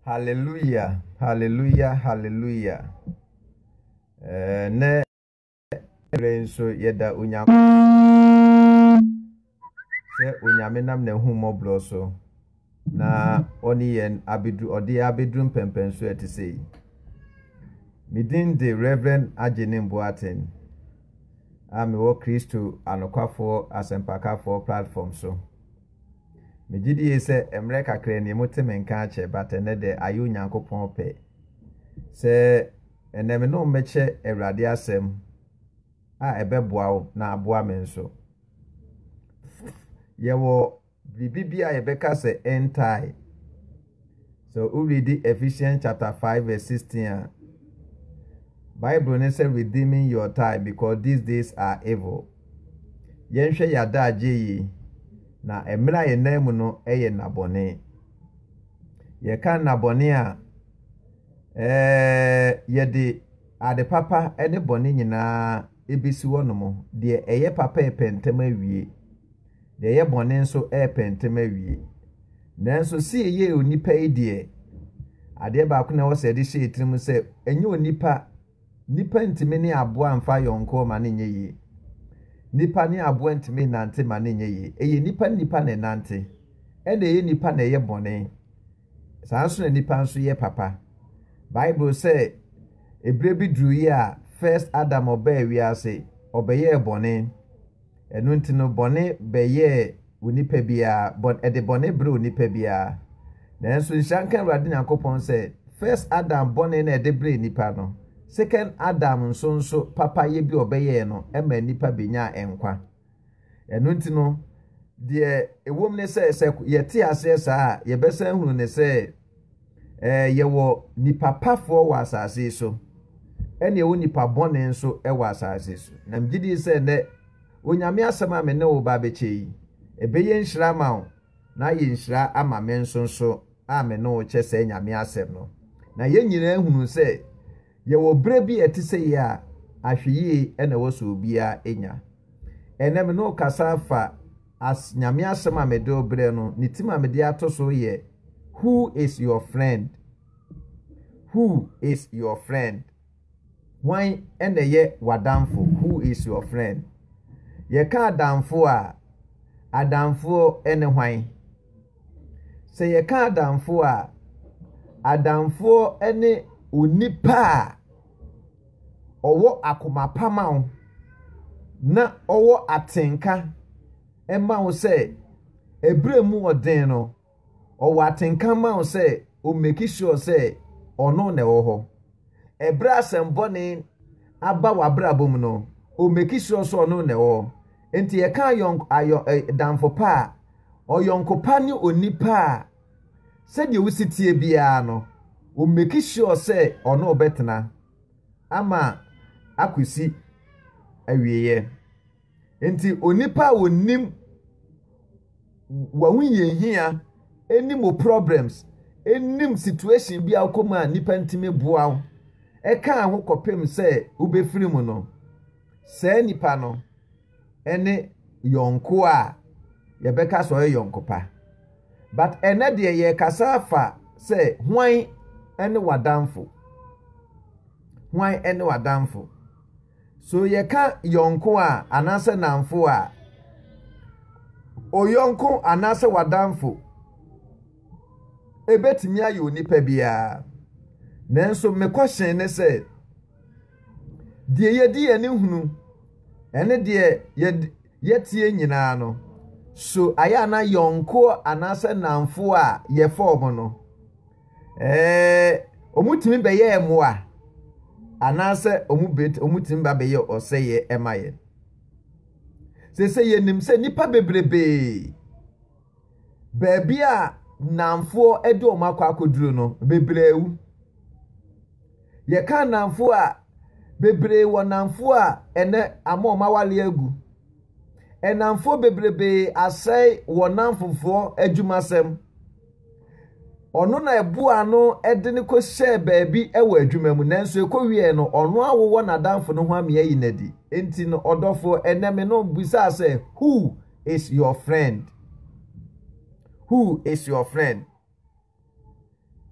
Hallelujah, hallelujah, hallelujah. Eh, ne ɛrɛ nso yɛda onyame sɛ onyame nam n'ahummɔborɔ so na ɔne yɛn abɛduru ɔde abɛduru mpɛmpɛnso a ɛte sɛ yi me din de reverend agyene mboaten a mewɔ kristo anokwafoɔ asɛmpakafoɔ platform so megye die sɛ mmerɛ kakra ni mote me nka akyɛ but ɛnɛ dɛ ayɛ onyankopɔn pɛ sɛ ɛnɛ me ne wo mmɛkyɛ awurade asɛm a ɛbɛboa wo na aboa me nso yɛwɔ Biribi bi a yɛbɛka sɛ ɛntae. Sɛ wo readi Ephesians chapter five verse sixteen a, Bible ne sɛ redeeming your time because these days are evil. Yɛnhwɛ yɛn adagye yi, na mmerɛ a yɛnam mu no yɛ nnabɔne. Yɛka nnabɔne a, ɛɛ yɛde ade papa ne bɔne nyinaa ɛbɛsi hɔ nom, deɛ ɛyɛ papa repɛ ntɛm awie, deɛ ɛyɛ bɔne nso repɛ ntɛm awie. Nanso seeyei onipa yi deɛ, adeɛ baako na ɛwɔ sɛ ɛde hyɛ tirim sɛ, ɛnyɛ onipa, nipa ntumi ne aboa mfa yɔnkoɔ ma ne nyɛ yie. Nipa ne aboa ntumi nante ma ne nyɛ yie. Ɛyɛ nipa ne nipa na ɛnante, ɛna ɛyɛ nipa na ɛyɛ bɔne. Saa ara nso na nnipa nso yɛ papa. Bible sɛ ɛberɛ bi duruiɛ a first Adam ɔbaa wiase, ɔbɛyɛɛ bɔne. Ɛno nti no bɔne bɛyɛɛ onipa biara, bɔn, ɛde bɔne berɛ onipa biara. Nanso nhyira nka Awurade Nyankopɔn sɛ first Adam bɔne na ɛde berɛ nnipa no, second Adam nso nso papayɛ bi ɔbɛyɛɛ no ɛma nnipa bɛnyaa nkwa. Ɛno nti no, deɛ ɛwom ne sɛ, sɛ yɛte aseɛ saa a, yɛbɛsan hunu ne sɛ ɛɛ yɛwɔ nipa pafoɔ wɔ asase yi so, ɛna ɛwɔ nipa bɔne nso wɔ asase so. Na megye di sɛ nnɛ, Onyame asɛm a me ne wo ba bɛkyɛ yi, ɛbɛyɛ nhyira ama wo, na ayɛ nhyira ama me nso nso a me ne wo kyɛ sɛ Nyame asɛm no. Na yɛn nyinaa hunu sɛ yɛwɔ berɛ bi a ɛte sɛ yei a, ahwɛyie ɛna ɛwɔ sɛ obiara nya. Ɛnnɛ me ne wo kasa afa as Nyame asɛm a mede wo brɛ no ne tim a mede ato so yɛ Who is your friend? Who is your friend? Hwan na ɛyɛ w'adamfo? Who is your friend? Yɛka adamfo a, adamfoɔ ne hwan? Sɛ yɛka adamfoɔ a, adamfoɔ ne onipa a ɔwɔ akoma pa ma wo na ɔwɔ atenka ma wo sɛ ɛberɛ mu ɔden no, ɔwɔ atenka ma wo sɛ ɔmmeki sure sɛ ɔno na ɛwɔ hɔ. Ɛberɛ a asɛm bɔne aba w'abrabɔ mu no, o meki sure sɛ ɔno na ɛwɔ hɔ. Enti yɛka ayɔnk ayɔ ɛ damfo pa a, ɔyɔnko pa ne onipa a sɛdeɛ wosi teɛ biara no, o meki sure sɛ ɔne wo bɛtena ama akɔsi awieɛ. Enti onipa a onim w'ahohiahia, nim wo problems, nim situation bi a wokɔ mu a nipa ntumi boa wo, ɛkaa ho kɔpem sɛ wobɛfiri mu no, saa nipa no ne yɔnko a yɛbɛka sɛ ɔyɛ yɔnko pa. But ɛnɛ deɛ yɛkasa afa sɛ hwan ne w'adamfo? Hwan ne w'adamfo? So yɛka yɔnko a anaasɛ nnamfo a? Oyɔnko anaasɛ w'adamfo ebetumi ayɛ onipa biara. Nanso me kɔhyɛn ne sɛ, deɛ yɛdi yɛn ani hunu ne deɛ yɛteɛ nyinaa no, so ayɛ a na yɔnko anaasɛ nnamfo a yɛfɔɔm no Ɛɛ, wɔtumi bɛyɛɛ mmoa anaasɛ wɔtumi ba bɛyɛ ɔsɛeɛ ma yɛn. Sese yɛnim sɛ nnipa bebrebee, baabi a nnamfoɔ de wɔn akɔ akɔduru no, bebree awu. Yɛka nnamfoɔ a, bebree wɔ nnamfoɔ a ɛnɛ ama wɔn awareɛ agu. Nnamfoɔ bebrebee asɛe wɔn nnamfofoɔ adwumasɛm. Ɔno na ɛboaa no de no kɔhyɛɛ baabi wɔ adwuma mu, nanso ɛkɔwieeɛ no, ɔno ara wowɔ n'adamfo no ho ame ayi no adi. Enti no, ɔdɔfoɔ, ɛnnɛ me no bisaa sɛ, Who is your friend? Who is your friend?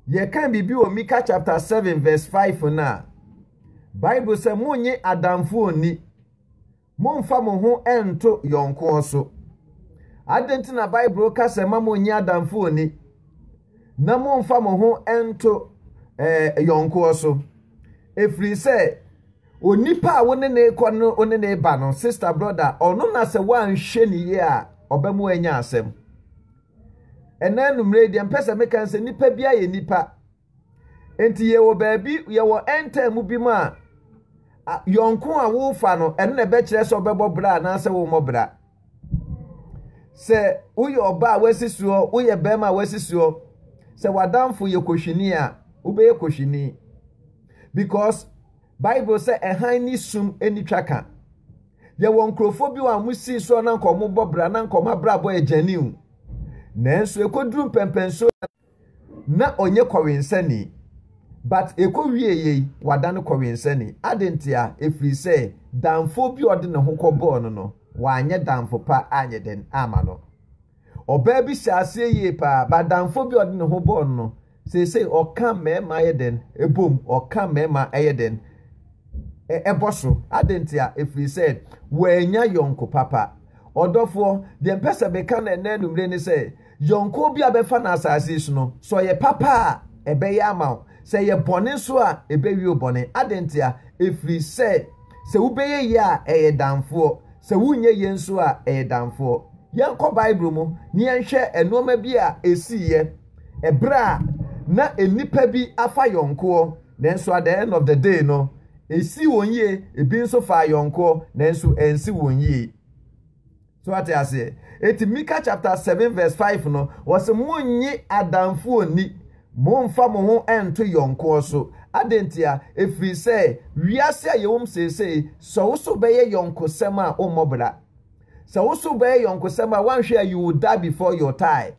Yɛka biribi wɔ Mika chapter 7 verse 5 no a, Bible sɛ, Monnye adamfo nni. Mommfa mo ho nnto yɔnko so. Adɛn nti na Bible ka sɛ mma monnye adamfo nni na mommfa mo ho nnto eh, yɔnko so? Ɛfiri sɛ onipa a wo ne ne rekɔ no wo ne ne reba no, sista brɔda, ɔno na sɛ woanhwɛ ne yie a ɔbɛ mu anya asɛm. Ɛnna anummerɛ yi deɛ mpɛ sɛ meka sɛ nnipa bi ayɛ nnipa. Enti yɛwɔ baabi, yɛwɔ end time bi mu a, a yɔnko a wofa no, ɛno na ɛbɛkyerɛ sɛ ɔbɛbɔ bra anaasɛ wommɔ bra. Sɛ woyɛ ɔba a wasi soɔ, woyɛ bɛrima a wasi soɔ, sɛ w'adamfo yɛ kohwini a, wobɛyɛ kohwini. Because Bible sɛ ɛhan ne sum ani twa ka. Yɛwɔ nkurɔfoɔ bi a wɔsii soɔ na nka wɔbɔ bra na nka wɔn abrabɔ yɛ gyaniw. Nanso ɛkɔduru mpɛmpɛnsoɔ Na ɔnyɛ kɔwensani. But ɛkɔ wie yei wadane kɔwensani. Ade ntia? Ɛfiri sɛ damfoɔ bi a ɔde ne ho kɔbɔɔ no no, wanyɛ damfo pa anyɛ dɛn amma no. Ɔbaa bi hyɛɛ aseɛ yie paa, but damfoɔ bi a ɔde ne ho bɔɔ no no, seesei ɔka mmarima yɛ dɛn? Ɛbom, ɔka mmarima ɛyɛ dɛn? Ɛbɔ so. Ade ntia? Ɛfiri sɛ wannya yɔnko papa. Ɔdɔfoɔ, deɛ mpɛ sɛ meka no ɛnɛ anwummere ne sɛ, Yɔnko bi a bɛfa no asase yi so no, sɛ ɔyɛ papa a, ɛbɛyɛ ama wo. Sɛ ɛyɛ bɔne nso a, ɛbɛwie wo bɔne. Adɛn ntia? Ɛfiri sɛ, sɛ wobɛyɛ yie a, ɛyɛ damfoɔ. Sɛ wonyɛ yie nso a, ɛyɛ damfoɔ. Yɛnkɔ Bible mu na yɛnhwɛ nnoɔma bi a ɛsiiɛ ɛberɛ a na nnipa bi afa yɔnkoɔ, nanso at the end of the day no, ɛsii wɔn yie. Ɛbi nso faa yɔnkoɔ, nanso ansi wɔn yie. So wate aseɛ? Eti Mika chapter seven verse five no, wɔsi mo nye adanfoɔ ni, mo nfa mo ho nto yɔnkoɔ so. Adentia? Efiri sɛ wiase a yɛwom seesei, sɛ wo so bɛyɛ yɔnkosɛm a, wommɔ bra. Sɛ wo so bɛyɛ yɔnkosɛm a, wanhwɛ a you will die before your time.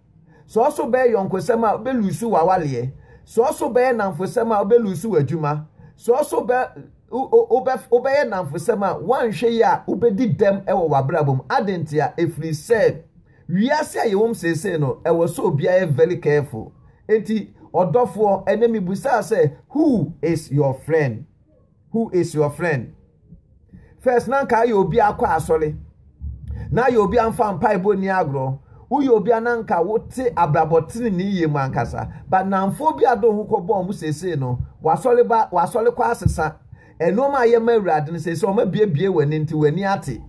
Sɛ wo so bɛyɛ yɔnkosɛm a, wobɛlusu w'awaleɛ. Sɛ wo so bɛyɛ namfosɛm a, wobɛlusu w'adwuma. Sɛ wo so bɛ. wobɛyɛ nnamfosɛm a, woanhwɛ yie a wobɛdi dɛm wɔ w'abrabɔ mu. Adɛn ntia? Ɛfiri sɛ, wiase a yɛwɔ mu seesei no, ɛwɔ sɛ obiara yɛ very careful. Enti, ɔdɔfoɔ, ɛnɛ mebusaa sɛ, who is your friend? Who is your friend? First, na anka ayɛ obi akɔ asɔre. na ayɛ obi a mfa mpaebɔ nni agorɔ. Woyɛ obi a na anka wote abrabɔ trenee yie mu ankasa. But nnamfoɔ bi a de wo ho kɔbɔɔ wɔn seesei no, w'asɔre ba, w'asɔre kɔ asesa. Nnoɔma a yɛ ma Awurade no, seesei wɔabuebue w'ani nti w'ani ate.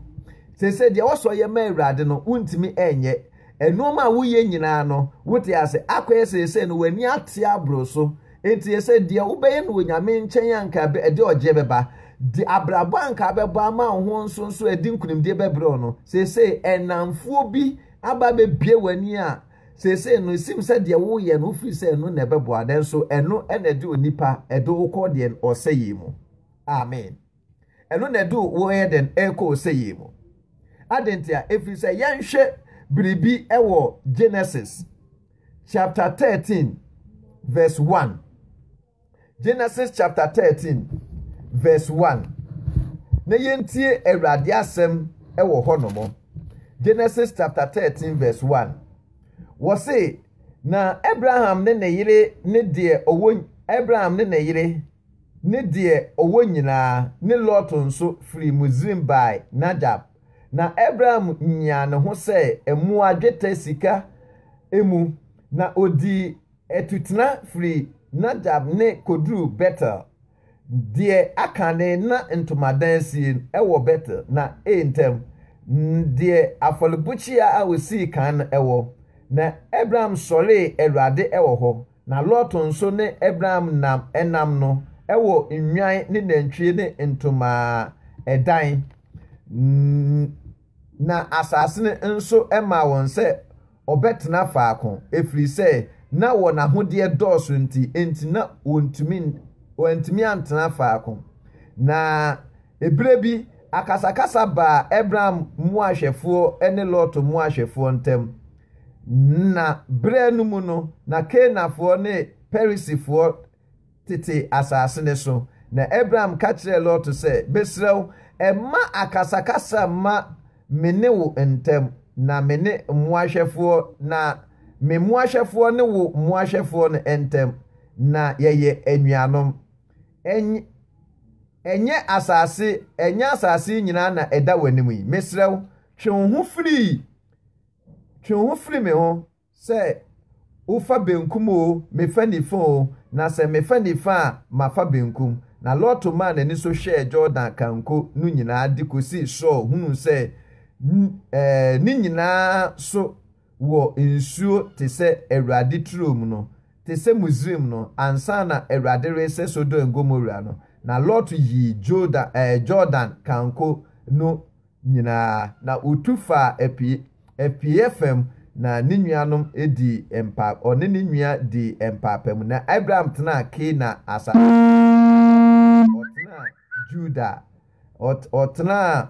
Seesei deɛ ɛwɔ sɛ ɔyɛ ma Awurade no, wontumi nyɛ. Nnoɔma a woyɛ nyinaa no, wote ase. Akɔyɛ seesei no, w'ani ate aboro so. Enti yɛsɛ deɛ wobɛyɛ no wɔ Nyame nkyɛn a nka ɛde ɔgyeɛ bɛba, de abrabɔ a nka abɛbɔ ama wo ho nso nso ɛde nkunimdie bɛbrɛ wo no. Seesei ɛnamfoɔ bi aba abɛbue w'ani a seesei no esim sɛ deɛ woyɛ no wofiri sɛ ɛno na ɛbɛboa nanso ɛno na ɛde onipa ɛde wo kɔ deɛn? Ɔsɛeɛ mu. Amen. Ɛno na ɛde wo yɛ dɛn rekɔ ɔsɛeɛ mu. Adɛn ntia? Ɛfiri sɛ yɛnhwɛ biribi wɔ Genesis chapter 13 verse 1. Genesis chapter 13 verse 1. Na yɛntie Awurade asɛm wɔ hɔ nom. Genesis chapter 13 verse 1. Wɔ se, na Abraham ne ne yere ne deɛ ɔwɔ Abraham ne ne yere ne deɛ ɔwɔ nyinaa, ne Lot nso, firii Misraim baae Najab. Na Abram nyaa ne ho sɛɛ mmoa, dwetɛ, sika, mu, na ɔdii atutena firii Najab ne kɔduruu Betel. Deɛ aka ne na ntomadan sie wɔ Betel, na ei ntam, n deɛ afɔrebukyia a ɔsii kan no wɔ. Na Abram sɔree Awurade wɔ hɔ, Na Lot nso ne Abraham nam ɛnam no wɔ nnwan ne nantwie ne ntomaa ɛdan, na asase no nso maa wɔn sɛ ɔbɛtena faako, ɛfiri sɛ na wɔn ahodeɛ dɔɔso nti, enti na wɔntumi wɔantumi antena faako. Na ɛberɛ bi, akasakasa baa Abraham mmoahwɛfoɔ ne Lot mmoahwɛfoɔ ntam. Nna berɛ no mu no, na Kanaanfoɔ ne Perisifoɔ tete asase no so. Na Abram ka kyerɛɛ Lot sɛ, Mesrɛ wo, mma akasakasa mma me ne wo ntam, na me ne mmoahwɛfoɔ, na me mmoahwɛfoɔ ne wo mmoahwɛfoɔ no ntam, na yɛyɛ anuanom. Ɛny ɛnyɛ asase, ɛnyɛ asase yi nyinaa na ɛda w'anim yi? Mesrɛ wo, twe wo ho firi Twe wo ho firi me ho, sɛ wofa benkum oo, mefa nifa oo, na sɛ mefa nifa a, mafa benkum. Na Lot maa n'ani so hwɛɛ Jordan kanko no nyinaa de kɔsii soro hunuu sɛ ne nyinaa so wɔ nsuo te sɛ Awurade turo mu no, te sɛ Misraim no, ansa na Awurade resɛ Sodom and Gomora no. Na Lot yii Jordan kanko no nyinaa, na otu faa apie, apueeɛ fam, na ne nuanom dii mpa, ɔne ne nua dii mpaapamu. Na Abraham tenaa Kanaan asase so anaa sɛ ɔtenaa Juda? Ɔt, ɔtenaa,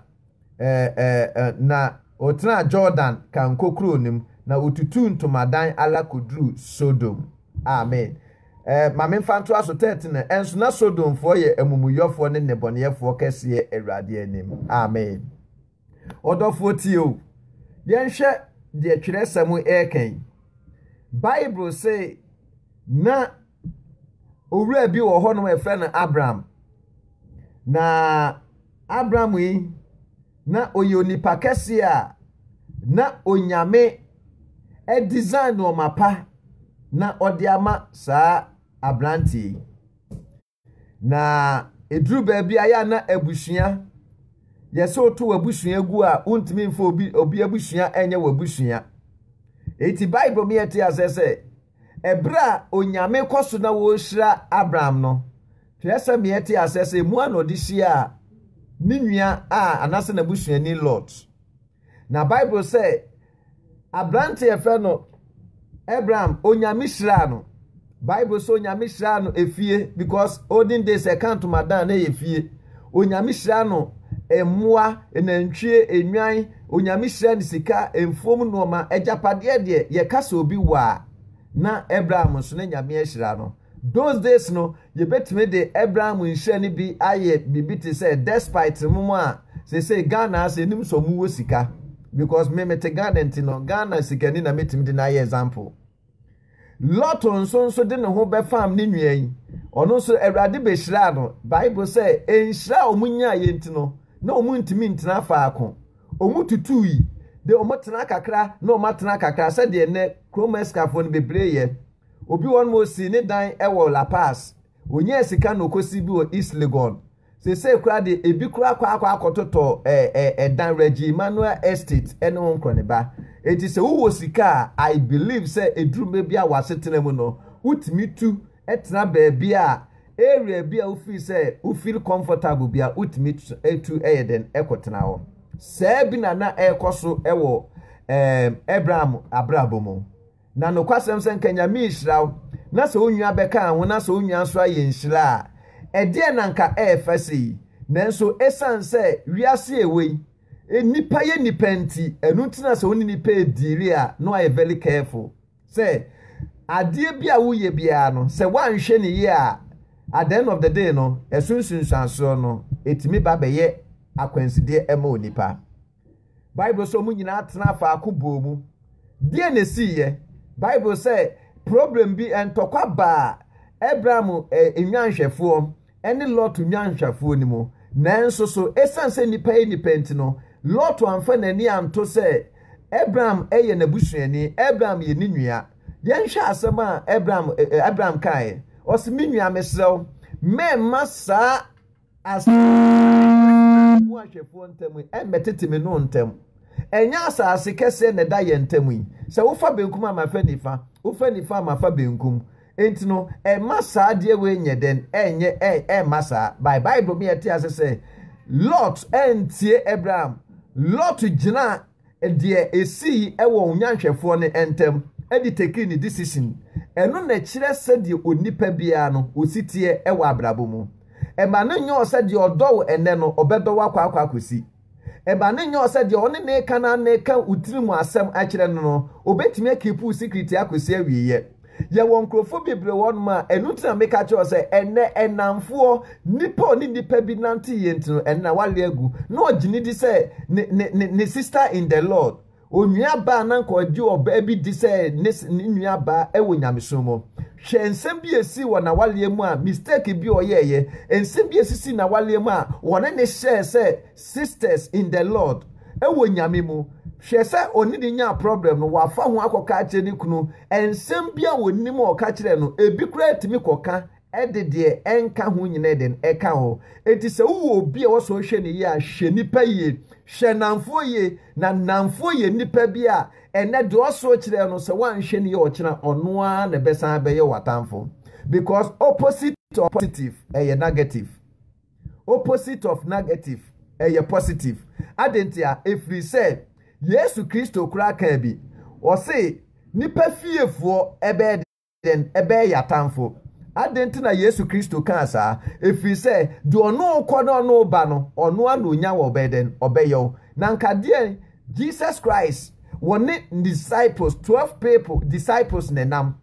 ɛ, ɛ, ɛ, na ɔtenaa Jordan kankokuro no mu, na ɔtutuu ntomadan ara kɔduruu Sodom. Amen. Eh, ma memfa ntoa so, 13 eh, Nso na Sodomfoɔ yɛ amumuyɔfoɔ ne nnebɔneyɛfoɔ kɛseɛ Awurade anim. Amen. Ɔdɔfoɔ tie o. Yɛnhwɛ deɛ twerɛsɛm ɛreka yi. Bible se na owura bi wɔ hɔ nom ɛfrɛ no Abraham. Na Abraham yi Na ɔyɛ onipa kɛseɛ a na Onyame design nnoɔma pa na ɔde ama saa aberanteɛ yi. Na ɛduru baabi a yɛ a na abusua, yɛ sɛ woto w'abusua gu a wontumi mfa obi obi abusua ɛnyɛ w'abusua. Eti Bible mi ɛte asɛ sɛ Bere a Onyame kɔ so na ɔrehyira Abraham no, twerɛsɛm yɛ te aseɛ sɛ ɛmu a na ɔde hyiaa ne nua a anaasɛ n'abusuani Lot. Na Bible sɛ aberante a ɛfɛ no Abraham, Onyame hyiraa no. Bible sɛ Onyame hyiraa no efie because olden days ɛka ntomadan na ɛyɛ fie. Onyame hyira no mmoa, nantwie, nnwan, Onyame hyira no sika, mfuom nnoɔma, agyapadeɛ deɛ yɛka sɛ obi wɔ a na Abraham nso na Nyame ahyira no. Those days no yɛbɛtumi de Abraham nhyira no bi ayɛ biribi te sɛ despite mo mo a seesei Ghana ha sɛ yɛnim sɛ ɔmo wɔ sika because me mete Ghana nti no Ghana sikani na mɛtumi de no ayɛ example. Lot nso nso de ne ho bɛfam ne nua yi. Ɔno nso Awurade behyiraa no. Bible sɛ nhyira a wɔn nyaeɛ nti no, na wɔn ntumi ntena faako. Wɔn tutui, de wɔn tena kakra na wɔn atena kakra sɛdeɛ nnɛ kurom asikafoɔ no bebree yɛ. Obi wɔ hɔ no ma ɔsii ne dan wɔ La Paz. Ɔnyaa sika na ɔkɔsii bi wɔ East Legon. Seesei koraa de, ebi koraa akɔ akɔ akɔtotɔ ɛ ɛ ɛdan Reggie Manuel Estate ɛne ho nkorɔneba. Enti sɛ wowɔ sika a, I believe sɛ eduru mɛ bi a w'asetena mu no, wotumi tu tena baabi a area bi a wo feel sɛ wo feel comfortable bi a wotumi tu yɛ dɛn kɔ tena hɔ. Saa bi na na ɛrekɔ so wɔ ɛɛm Abraham abrabɔ mu. Na nokwasɛm sɛ nka Nyame rehyira wo na sɛ wo nua bɛkaa ho na sɛ wo nua nso ayɛ nhyira a, ɛdeɛn na nka ɛɛfa sei? Nanso ɛsiane sɛ wiase a ɛwɔ yi, nnipa yɛ nnipa nti, ɛno nti na sɛ wo ne nnipa rediili a na wayɛ very careful sɛ adeɛ bi a woyɛ biara no sɛ woanhwɛ ne yie a, at the end of the day no, ɛso nsunsuansoɔ no, ɛtumi ba bɛyɛ akwansideɛ ma onipa. Bible sɛ wɔn nyinaa tenaa faako bɔɔ mu. Deɛn na ɛsiiɛ? Bible sɛ problem bi, ntɔkwa baa Abraham nnwanhwɛfoɔ ne Lot nnwanhwɛfoɔ no mu. Nanso so ɛsiane sɛ nnipa yɛ nnipa nti no, Lot amfa n'ani anto sɛ Abraham yɛ n'abusuani, Abraham yɛ ne nua. Yɛnhwɛ asɛm a Abraham, Abraham kaeɛ. Ɔse, me nua, mesrɛ wo, mɛmma saa Asase a ɛwɔ yɛn ne Yehowa ntam yi, ɛmmɛtete me ne wo ntam. Ɛnyɛ asase kɛseɛ na ɛda yɛn ntam yi. Sɛ wofa benkum a, mafa nifa, wofa nifa a, mafa benkum. Enti no, ɛmma saa adeɛ wei nyɛ dɛn? Ɛnyɛ, ɛ, ɛmma saa. By Bible mu yɛte ase sɛ, Lot antie Abraham. Lot gyinaa deɛ ɛsii wɔ onyanhwɛfoɔ no ntam de taking ne decision, ɛno na ɛkyerɛ sɛdeɛ onipa biara no ɔsi teɛ wɔ abrabɔ mu. Ɛma no nyɛ ɔ sɛ deɛ ɔdɔ wo ɛnnɛ no ɔbɛdɔ wo akɔ akɔ akɔsi. Ɛma no nyɛ ɔ sɛ deɛ ɔne ne ka no ano reka wo tirim asɛm akyerɛ no no ɔbɛtumi akiipi wo secret akɔsi awieɛ. yɛwɔ nkurɔfoɔ bebree wɔ hɔnom a ɛno nti na meka kyerɛ sɛ ɛnɛ ɛnamfoɔ nipa ɔne nipa bi nante yɛ nti no ɛnɛ na wale agu na ɔgye ne di sɛ ne ne ne ne sister in the lord onua baa na nka ɔgye ɔbaa bi di sɛ ne ne nua baa ɛwɔ nyamesom mu hwɛ nsɛm bi esi wɔ na wale mu a mistake bi ɔyɛɛyɛ nsɛm bi esisi na wale mu a wɔne ne hyɛɛ sɛ Sisters in the Lord wɔ Nyame mu. Hwɛ sɛ ɔne ne nyaa problem no wafa ho akɔka akyerɛ ne kunu ɛnsɛm bi a ɔnim a ɔka kyerɛ no ebi koraa ɛtumi kɔka ɛde deɛ ɛnka ho nyina ɛdɛn ɛka ho enti sɛ wowɔ obi a wɔsɔ hwɛ ne yie a hwɛ nipa yie hwɛ nnamfoɔ yie na nnamfoɔ yɛ nipa bi a ɛnɛ deɛ ɔsɔ kyerɛ no sɛ woanhwɛ ne yie ɔkyena ɔno ara na ɛbɛsan bɛyɛ w'atamfo because opposite to positive ɛyɛ negative Opposite of negative, ɛyɛ positive. Adɛn ntia? Ɛfiri sɛ Yesu Kristo koraa kaa bi, ɔse nnipa fiefoɔ bɛyɛ dɛn? Ɛbɛyɛ yɛn atamfo. Adɛn nti na Yesu Kristo kaa saa? Ɛfiri sɛ deɛ ɔno rekɔ na ɔno reba no, ɔno ara na ɔnya wɔ ɔbɛyɛ dɛn? Ɔbɛyɛ wo. Na nka deɛ Jesus Christ wɔne ne disciples, 12 people disciples na ɛnam.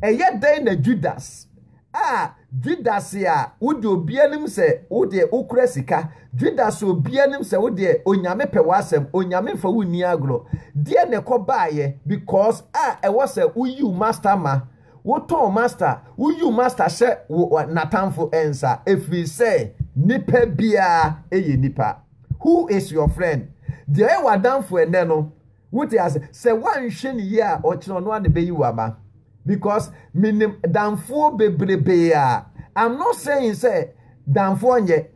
Ɛyɛ dɛn na Judas a, Judas a wode obi anim sɛ wo deɛ wokura sika, Judas a obi anim sɛ wo deɛ Onyame pɛ w'asɛm, Onyame mfa wo nni agorɔ, deɛ na ɛkɔ baeɛ because a ɛwɔ sɛ wo yiw master ma, wo tɔn master, wo yiw master hyɛ wo natamfo nsa ɛfiri sɛ nipa biara yɛ nipa. Who is your friend? Deɛ ɔyɛ w'adamfo ɛnɛ no, Wote ase? Sɛ woanhwɛ no yie a, ɔkyena ɔno ara na ɛbɛyi wo ama. Because menim damfoɔ bebrebee a, I'm not saying sɛ damfoɔ nyɛ,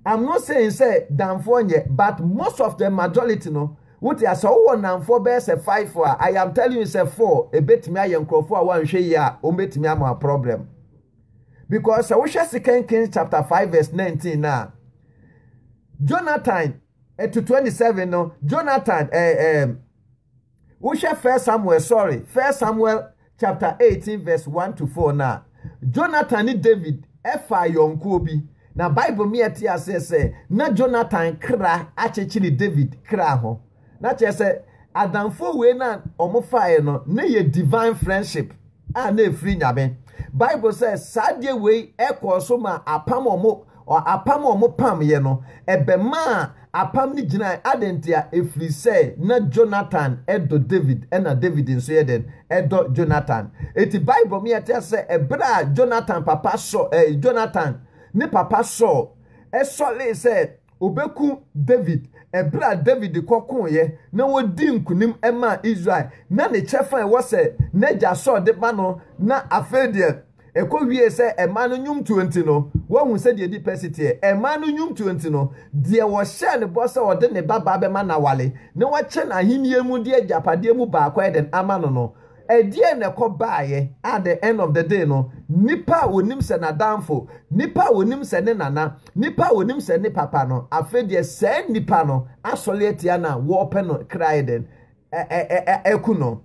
I'm not saying sɛ damfoɔ nyɛ, but most of the majority no, wote ase, sɛ wowɔ nnamfoɔ bɛyɛ sɛ five a, I am telling you sɛ four, ɛbɛtumi ayɛ nkurɔfoɔ a woanhwɛ yie a, wɔbɛtumi ama wo problem. Because sɛ wohwɛ Second Kings chapter five verse nineteen no a, Jonathan to twenty seven no jonathan ɛɛ eh, ɛɛ eh, wohwɛ first samuel sorry first samuel chapter eighteen verse one to four na jonathan ne david ɛfa ayɔnkoɔ bi na bible mi ɛte aseɛ sɛ na jonathan kra akyekyere david kra ho na kyerɛ sɛ adamfo wei na wɔn faeɛ no ne yɛ divine friendship. a na ɛfiri Nyame. Bible sɛ saa adeɛ wei ɛkɔɔ so ma apam ɔmo apam a ɔmo pamyɛ no ɛbɛmaa apam no gyinae adɛn ntia ɛfiri sɛ na Jonathan ɛdɔ David ɛna David nso yɛ dɛn ɛdɔ Jonathan ɛti Bible ma yɛte ase sɛ ɛberɛ a Jonathan papa sɔ ɛɛ Jonathan ne papa Saul ɛsɔlee sɛ Obekum Dawid. Bere a Dawid kɔ koeɛ na ɔdii nkonim maa Israel, na ne kyɛfa a ɛwɔ sɛ n'agya Saul de ba no, na afei deɛ ɛkɔwiee sɛ ɛmaa no nnwomtoɔ nti no, woahu sɛdeɛ ɛdi pɛ si teɛ? Ɛmaa no nnwomtoɔ nti no, deɛ wɔhyɛɛ no bɔ sɛ ɔde ne babaa bɛma no aware na wakyɛ no ahennie mu de agyapadeɛ mu baako ayɛ dɛn ama no no, Ɛdeɛn na ɛkɔ baeɛ at the end of the day no, nipa a ɔnim sɛ n'adamfo, nipa a ɔnim sɛ ne nana, nipa a ɔnim sɛ ne papa no, afei deɛ saa nipa no asɔre atia no a wɔpɛ no kra ayɛ dɛn? Aku no.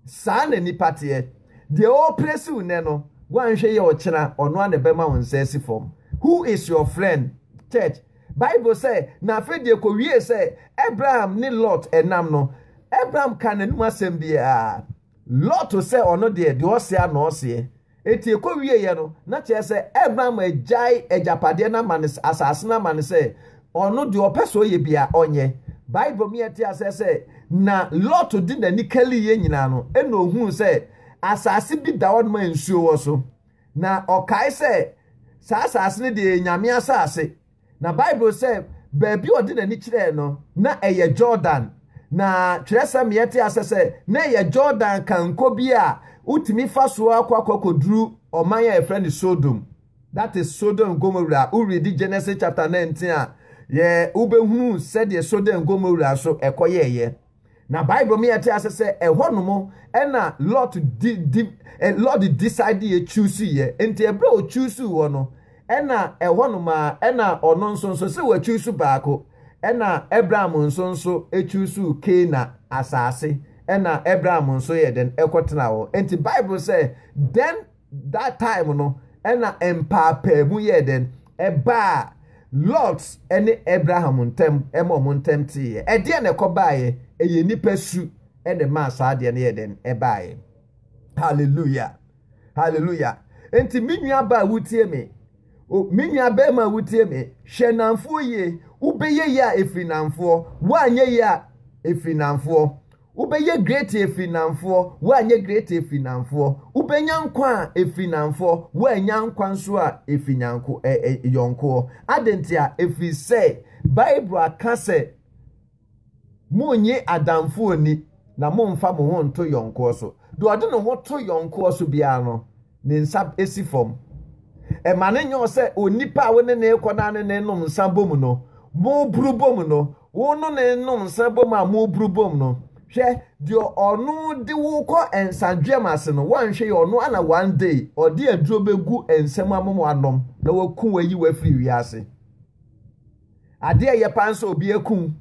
Saa na nipa teɛ. Deɛ ɔreprɛsi wo nnɛ no, woanhwɛ yie a ɔkyena ɔno ara na ɛbɛma wo nsa asi fam. Who is your friend? Church. Bible sɛ, Na afei deɛ ɛkɔwiee sɛ Abraham ne Lot nam no, Abraham kaa n'anom asɛm biara. Lot sɛ ɔno deɛ, deɛ ɔse ara na ɔseɛ. Enti ɛkɔwieeɛ no, na kyerɛ sɛ Abraham agyae agyapadeɛ no ama no, asase no ama no sɛ ɔno deɛ ɔpɛ sɛ ɔyɛ biara ɔnyɛ. Bible ma yɛte aseɛ sɛ, Na Lot de n'ani kaliiɛ nyinaa no, ɛnna ɔhuu sɛ asase bi da hɔnom a nsuo wɔ so. Na ɔkae sɛ, Saa asase no deɛ yɛ Nyame asase. Na Bible sɛ baabi a ɔde n'ani kyerɛɛ no na ɛyɛ Jordan. Na twerɛsɛm yɛte asɛ sɛ na ɛyɛ Jordan kanko bi a wotumi fa soɔ akɔ akɔkɔduru ɔman a yɛfrɛ no Sodom. That is Sodom and Gomorrah. Woredi Genesis chapter 19 a, yɛ wobɛhunu sɛdeɛ Sodom and Gomorrah nso ɛkɔyɛɛyɛ. Na Bible ma yɛte ase sɛ ɛhɔ nom ɛna Lot di di eh, Lot decide yɛ choose yɛ. Nti ɛberɛ a ɔchuusu hɔ no, ɛna ɛhɔ nom a ɛna ɔno nso nso sɛ wachuusu baako. Ɛna Abraham nso nso ɛchuusu Keena asaase. Ɛna Abraham nso yɛ dɛn ɛkɔtena hɔ. Nti Bible sɛ, then that time no ɛna mpaapaamu yɛɛ dɛn ɛbaa lot ɛne abraham ntɛm ɛma ɔmo ntɛm teeɛ ɛdeɛ na ɛkɔ baayɛ ɛyɛ nipa su ɛna ɛmaa saa adeɛ no yɛɛ dɛn ɛbaayɛ hallelujah hallelujah nti me nua baa wutie me me nua bɛrima wutie me hwɛ nanfoɔ yie wobɛyɛ yie a ɛfiri nanfoɔ woanyɛ yie a ɛfiri nanfoɔ Wobɛyɛ great ɛfiri Namfoɔ, woanyɛ great ɛfiri Namfoɔ. Wobɛnya nkwa a ɛfiri Namfoɔ, woannya nkwa nso a ɛfiri nyanko, ɛ, ɛ, yɔnkoɔ. Adɛn ntia? Ɛfiri sɛ Bible aka sɛ, Monnye adamfoɔ nni, na mommfa mo ho nnto yɔnkoɔ so. Deɛ ɔde ne ho to yɔnkoɔ so biara no, ne nsa si fam. Ɛma no nyɛ ɔ sɛ onipa a wo ne no rekɔ no ara ne no renom nsa bɔ mu no, moboro bɔ mu no, Wo no ne nom nsa bom a mo buru bom no, hwɛ, deɛ ɔno de wo kɔ nsadweam ase no, woanhwɛ yi, ɔno ana one day ɔde aduro bɛgu nsa mu ama mo anom na waku wo ayi wo afiri wiase? Adeɛ a ɛyɛ paa nso obi aku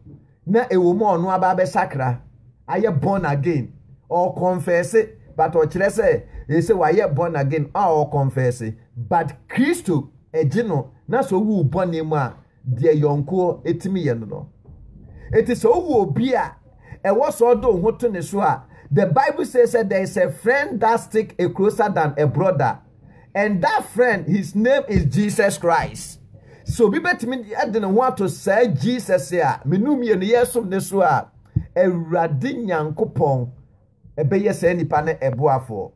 na ɛwɔ mu a ɔno aba abɛsakra, ayɛ born again, ɔkɔnfɛɛse, but ɔkyerɛ sɛ ɛsɛ wayɛ born again a ɔkɔnfɛɛse, but Kristo agye no na sɛ owu bɔne mu a, deɛ yɔnkoɔ tumi yɛ no no. Enti sɛ wohu obi a ɛwɔ sɛ ɔde wo ho to ne so a, the Bible says that there is a friend that stick a closer than a brother and that friend his name is Jesus Christ. Sɛ obi bɛtumi de ne ho ato saa Jesus a menu mmienu yɛsom ne so a, Awurade Nyankopɔn bɛyɛ saa nipa no ɛboafoɔ.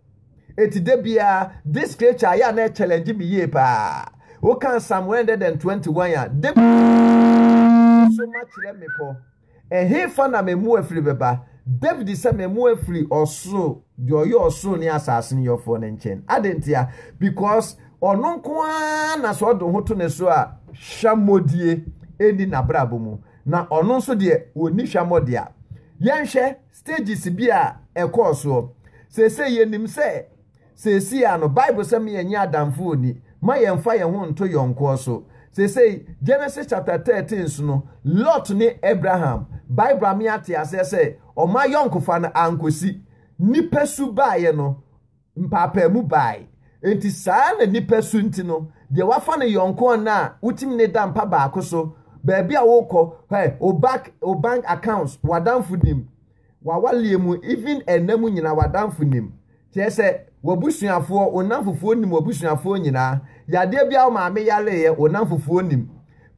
Eti da biara this scripture ayɛ a na ɛkyɛlɛngye me yie paa. Woka Psalm 121 a, da biara so makyerɛ mmepɔ. Ɛhefa na mɛmoa firi bɛba? David sɛ mɛmoa firi ɔsoro, deɛ ɔyɛ ɔsoro ne asase no yɔfoɔ no nkyɛn. Ade ntia? Because ɔno nko ara na sɛ ɔde ho to ne so a hwammɔdie ɛnni n'abrabɔ mu. Na ɔno nso deɛ ɔnni hwammɔdeɛ a. Yɛnhwɛ stages bi a ɛkɔɔ soɔ. Seesei yɛnim sɛ seesei ara no Bible sɛ ma yɛnyɛ adamfo ɔni, ma yɛmfa yɛn ho nto yɔnkoɔ so. Seesei Genesis chapter 13 so no, Lot ne Abraham, Bible ama yɛate aseɛ sɛ wɔn ayɔnkofa no ankɔsi. Nipasu baeɛ no, Mpaapaamu bae. Enti saa na nnipa su nti no, deɛ wafa ne yɔnko ɔna a wotumi ne da mpa baako so, baabi a wokɔ, hwɛ, wo back, wo bank accounts, w'adamfo nim, w'awaleɛ mu, even ɛna mu nyinaa w'adamfo nim. Kyerɛ sɛ, w'abusuafoɔ, wo nnamfofoɔ nim w'abusuafoɔ nyinaa. Yadeɛ bi a wo maame yareeɛ, wo nnamfofoɔ nim.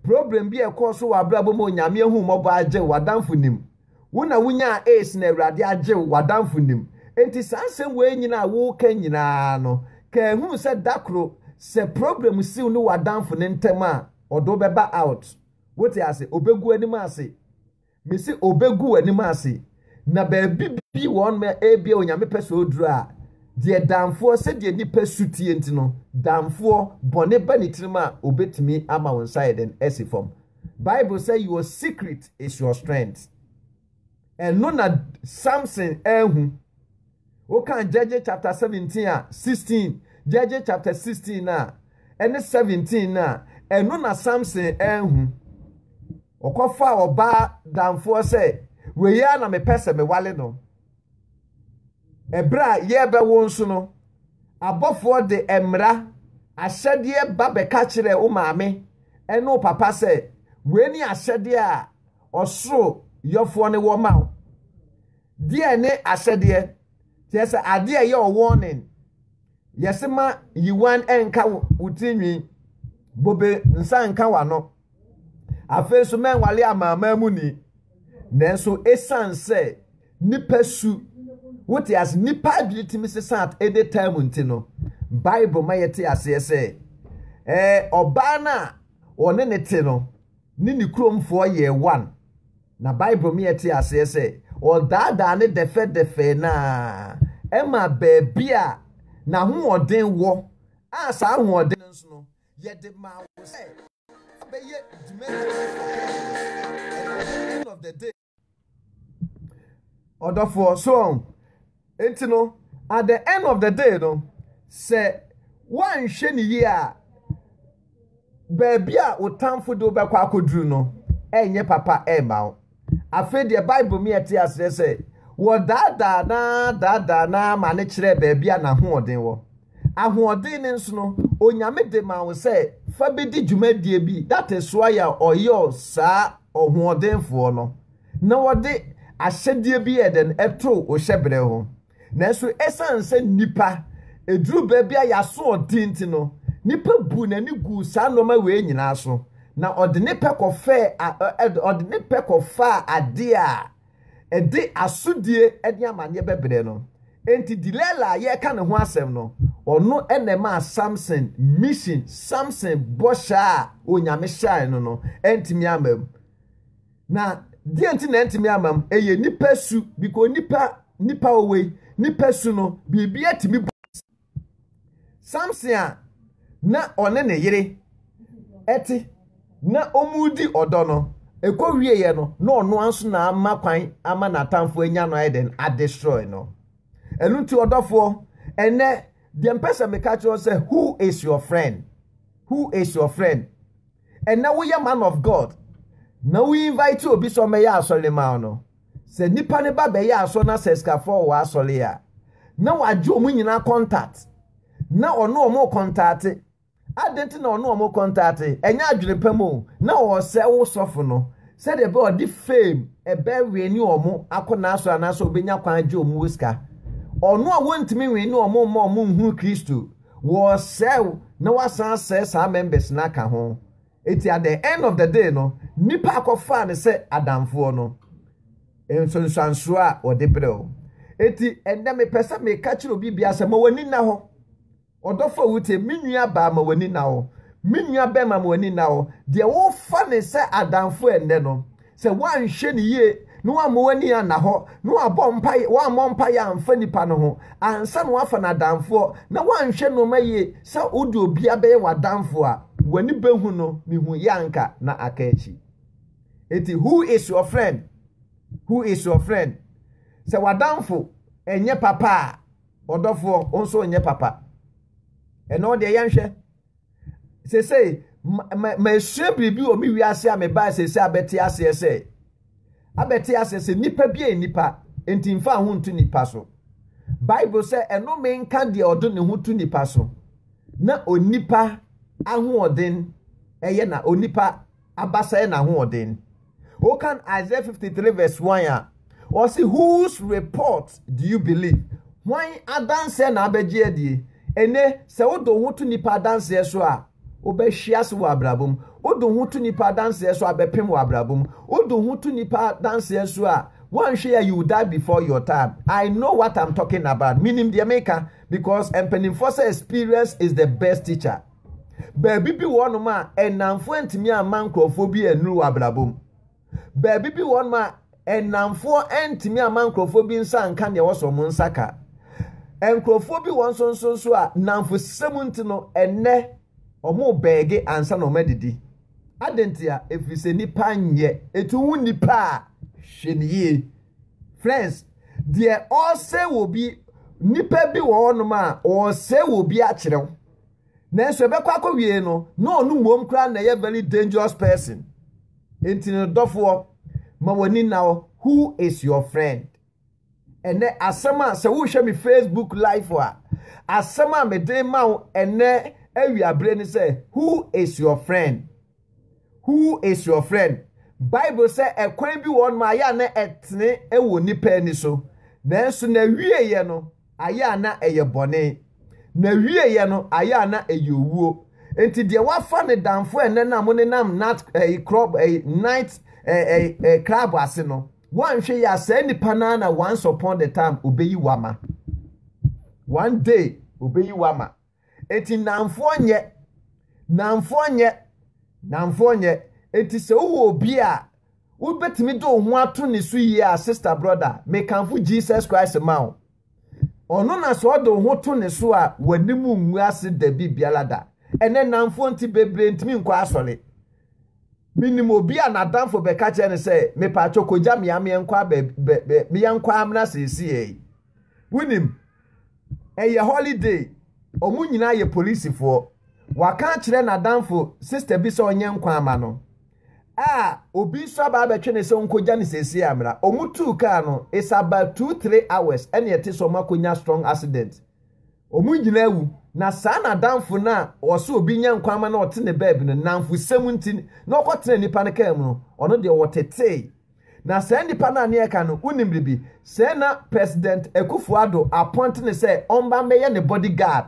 Problem bi a ɛkɔɔ so wɔ abrabɔ mu a Onyame ahummɔbɔ agye wo, w'adamfo nim. Wo na wunyaa AIDS na Awurade agye wo, w'adamfo nim. Enti saa asɛm wei nyina a woreka nyinaa no, ka ɛhunu sɛ da koro sɛ problem si wo ne w'adamfo no ntɛm a, ɔde wo bɛba out. Wote ase? Obegu w'anim ase. Mese obegu w'anim ase. Na baabi bi wɔ hɔ nom a ebia Onyame pɛ sɛ oduru a, deɛ damfoɔ, sɛdeɛ nipa su tie nti no, damfoɔ, bɔne ba ne tirim a, obetumi ama wo nsa ayɛ dɛn? Asi fam. Bible sɛ your secret is your strength. Ɛno na Samson ahu. Woka Judges chapter 17 a 16, Judges chapter 16 a ɛne 17 no a, ɛno na Samson ahu. Ɔkɔfaa ɔbaa damfoɔ sɛ, wei ara na mepɛ sɛ mewale no. Ɛberɛ a yɛrebɛwo nso no, abɔfoɔ de mmara, ahyɛdeɛ ba bɛka kyerɛɛ wo maame ne wo papa sɛ, Wei ne ahyɛdeɛ a ɔsoro yɔfoɔ no wɔ ma wo. Deɛ ne ahyɛdeɛ? Kyerɛ sɛ adeɛ a ɛyɛ ɔwɔnen. Yɛse ma yiwan nka wo tirinwi, bobe nsa nka w'ano. Afei nso, manwale amanaman muni. Nanso, esiane sɛ nnipa su, wote ase, nnipa adwene tumi sesa ɛde taa mu nti no, Bible ma yɛte aseɛ sɛ, ɛɛ ɔbaa no a ɔne ne te no ne ne kuromfoɔ yɛɛ one. Na Bible ma yɛte aseɛ sɛ, ɔdaadaa ne dɛfɛdɛfɛ no ara ɛma baabi a n'ahoɔden wɔ a saa ahoɔden no nso no, Yɛde maa wo sɛ wobɛyɛ dwumadi bi wɔ campus a ɛwɔ hɔ end of the day. Ɔdɔfoɔ, so ɔn? Nti no, at the end of the day no, sɛ woanhwɛ no yie a, baabi a wo tamfo de wo bɛkɔ akɔduru no, ɛnyɛ papa mma wo. Afei deɛ Bible mi ɛte aseɛ sɛ wɔdaadaa na daadaa na ma ne kyerɛɛ baabi a n'ahoɔden wɔ. Ahoɔden no nso no, Onyame de ma wo sɛ fa bɛdi dwumadie bi, that is why a ɔyɔ saa ɔhoɔdenfoɔ no na wɔde ahyɛdeɛ bi yɛ dɛn ɛto wo hyɛbrɛ ho. Nanso esiane sɛ nnipa eduruu baabi a yɛaso ɔden nti no, nipa buu n'ani guu saa nnoɔma wei nyinaa so, na ɔde ne pɛ kɔfɛɛ a, ɛ, ɛ, ɔde ne pɛ kɔfaa adeɛ a ɛde asodie ne amaneɛ bɛbrɛ no. Enti Delilah a yɛreka ne ho asɛm no, ɔno na ɛmaa Samson mission, Samson bɔhyɛ a Onyame hyɛɛe no no antumi amma mu. Na deɛ nti na ɛntumi ama m ɛyɛ nipa su because nipa nipa owei nipa su no biribi atumi bu Samson a na ɔne ne yere ɛte na ɔmu di ɔdɔ no ɛkɔ wieɛ no na ɔno anso na ama kwan ama n'atamfo anya no ayɛ dɛn adestroy no ɛno nti ɔdɔfoɔ ɛnɛ deɛ mpɛ sɛ meka kyerɛ sɛ who is your friend who is your friend ɛnɛ woyɛ man of God na wo invite obi sɛ ɔmmɛyɛ asɔre ma wo no, sɛ nipa no ba bɛyɛ asɔre na sɛ sikafoɔ wɔ asɔre a, na wagye wɔn nyinaa contact na ɔne wɔn kɔntaate. Adɛn nti na ɔne wɔn kɔntaate? Ɛnyɛ adwene pa mu o, na ɔresɛ wo sɔfo no sɛdeɛ ɛbɛyɛ ɔde fame ɛbɛwene wɔn akɔ n'asɔre anaasɛ ɔbɛnya kwan agye wɔn wɔ sika. Ɔno a wɔntumi nwene wɔn mma wɔn nhunu Kristo. Wɔresɛe wo na woasan asɛe saa members no aka ho. Enti at the end of the day no, nnipa a wɔkɔfaa no sɛ adamfoɔ no, nsunsuansoɔ a wɔde brɛ wo. Enti ɛnnɛ mepɛ sɛ meka kyerɛ obi biara sɛ ma w'ani nna hɔ. Ɔdɔfo a wotie, me nua baa ma w'ani nna hɔ. Me nua bɛrima ma w'ani nna hɔ. Deɛ wofa no sɛ adamfo ɛnnɛ no, Sɛ woanhwɛ no yie na woamma w'ani anna hɔ na woabɔ mpaeɛ, woammɔ mpaeɛ amfa nipa no ho ansa na woafa no adamfoɔ na woanhwɛ nnoɔma yie sɛ wode obiara bɛyɛ w'adamfoɔ a, w'ani bɛhu no, mehuiɛ a anka na aka akyi. Enti who is your friend? Who is your friend? Sɛ w'adamfo ɛnyɛ papa a, ɔdɔfoɔ, wo nso nyɛ papa. Ɛnna wo deɛ yɛnhwɛ. seesei masua biribi wɔ me wiase a mebae seesei abɛte aseɛ sɛ abɛte aseɛ sɛ nipa bi yɛ nipa nti nfa ho nto nipa so bible sɛ ɛnome nka deɛ ɔde ne ho to nipa so na onipa ahoɔden ɛyɛ na onipa aba sɛɛ n'ahoɔden. Wokan Isaiah 53 verse 1 a, ɔse whose report do you believe? Hwan adanseɛ na abɛgye adie? Ene, sɛ wode wo ho to nipa adanseɛ so a, wobɛhwe ase wɔ abrabɔ mu. Wode wo ho to nipa adanseɛ so a, bɛpem wɔ abrabɔ mu. Wode wo ho to nipa adanseɛ so a, woanhwɛ yi a, you will die before your time. I know what I'm talking about. Menim deɛ meka because mpanimfoɔ sɛ experience is the best teacher. Baabi bi wɔ hɔnom a nnamfoɔ ntumi amma nkurɔfoɔ bi annuru wɔ abrabɔ mu. Baabi bi wɔ hɔnom a nnamfoɔ ntumi amma nkurɔfoɔ bi nsa nka deɛ ɛwɔ sɛ wɔn nsa ka. Nkurɔfoɔ bi wɔn nso nso nso a nnamfosɛm nti no ɛnnɛ wɔn bɛɛge ansa na wɔn adidi. Adɛn nti a? Ɛfiri sɛ nipa nyɛ. Ɛtu ho nipa a hwɛ ne yie. Friends, deɛ ɔresɛ wɔ bi, nipa bi wɔ hɔnom a ɔresɛ wɔ bi akyerɛw. Nanso ɛbɛkɔ akɔwiee no, na ɔno mmom koraa na ɛyɛ very dangerous person. Enti no dɔfoɔ, ma w'ani nna hɔ, who is your friend? Ɛnɛ asɛm a sɛ wohwɛ me Facebook live a, asɛm a mede ma wo ɛnɛ awiabere ne sɛ, who is your friend? Who is your friend? Bible sɛ ɛkwan bi wɔ hɔnom a ɛyɛ a na ɛtene wɔ nnipa ani so, nanso n'awieeɛ no ayɛ a na ɛyɛ bɔne. N'awieeɛ no ayɛ a na ɛyɛ owuo. Enti deɛ wafa ne damfo ɛnnɛ no a monenam nat ɛyi club ɛyi night ɛyi ɛyi club ase no, wanhwɛ yɛ a saa nipa no ara na once upon the time obeyi wo ama. One day obeyi wo ama. Enti nnamfoɔ nyɛ, nnamfoɔ nyɛ, nnamfoɔ nyɛ. Enti sɛ wowɔ obi a wobɛtumi de wo ho ato ne so yie a, sista, brɔda, mekamfo Jesus Christ ma wo. Ɔno na sɛ ɔde wo ho to ne so a, w'anim ngu ase dabi biara da. Ɛnɛ nnamfoɔ nti bebree ntumi nkɔ asɔre. Menim obi a n'adamfo bɛka kyerɛ no sɛ, mepaatwɔ kɔgya me a meɛnkɔ a baabi, bɛ, bɛ, meɛnkɔ a mmra seesei. Wonim, ɛyɛ holiday, wɔn nyinaa yɛ polisifoɔ. Waka akyerɛ n'adamfo sista bi sɛ ɔnyɛ nkwa ama no a obi nso aba abɛtwe no sɛ ɔnkɔgya no seesei ammra. Wɔtuu kaa no, it's about two, three hours ɛne ɛte sɛ wɔakɔnya strong accident. Wɔn nyinaa wu. Na saa n'adamfo no a ɔsɛ obi nyɛ nkwa ama no a ɔte ne baabi no, nnamfosɛm nti na ɔkɔtena nipa no kaa mu no, ɔno deɛ ɔtetee. Na saa nipa no a nea ɛka no wonim biribi sɛ na President Akufo Addo appoint no sɛ ɔmba mbɛyɛ ne body guard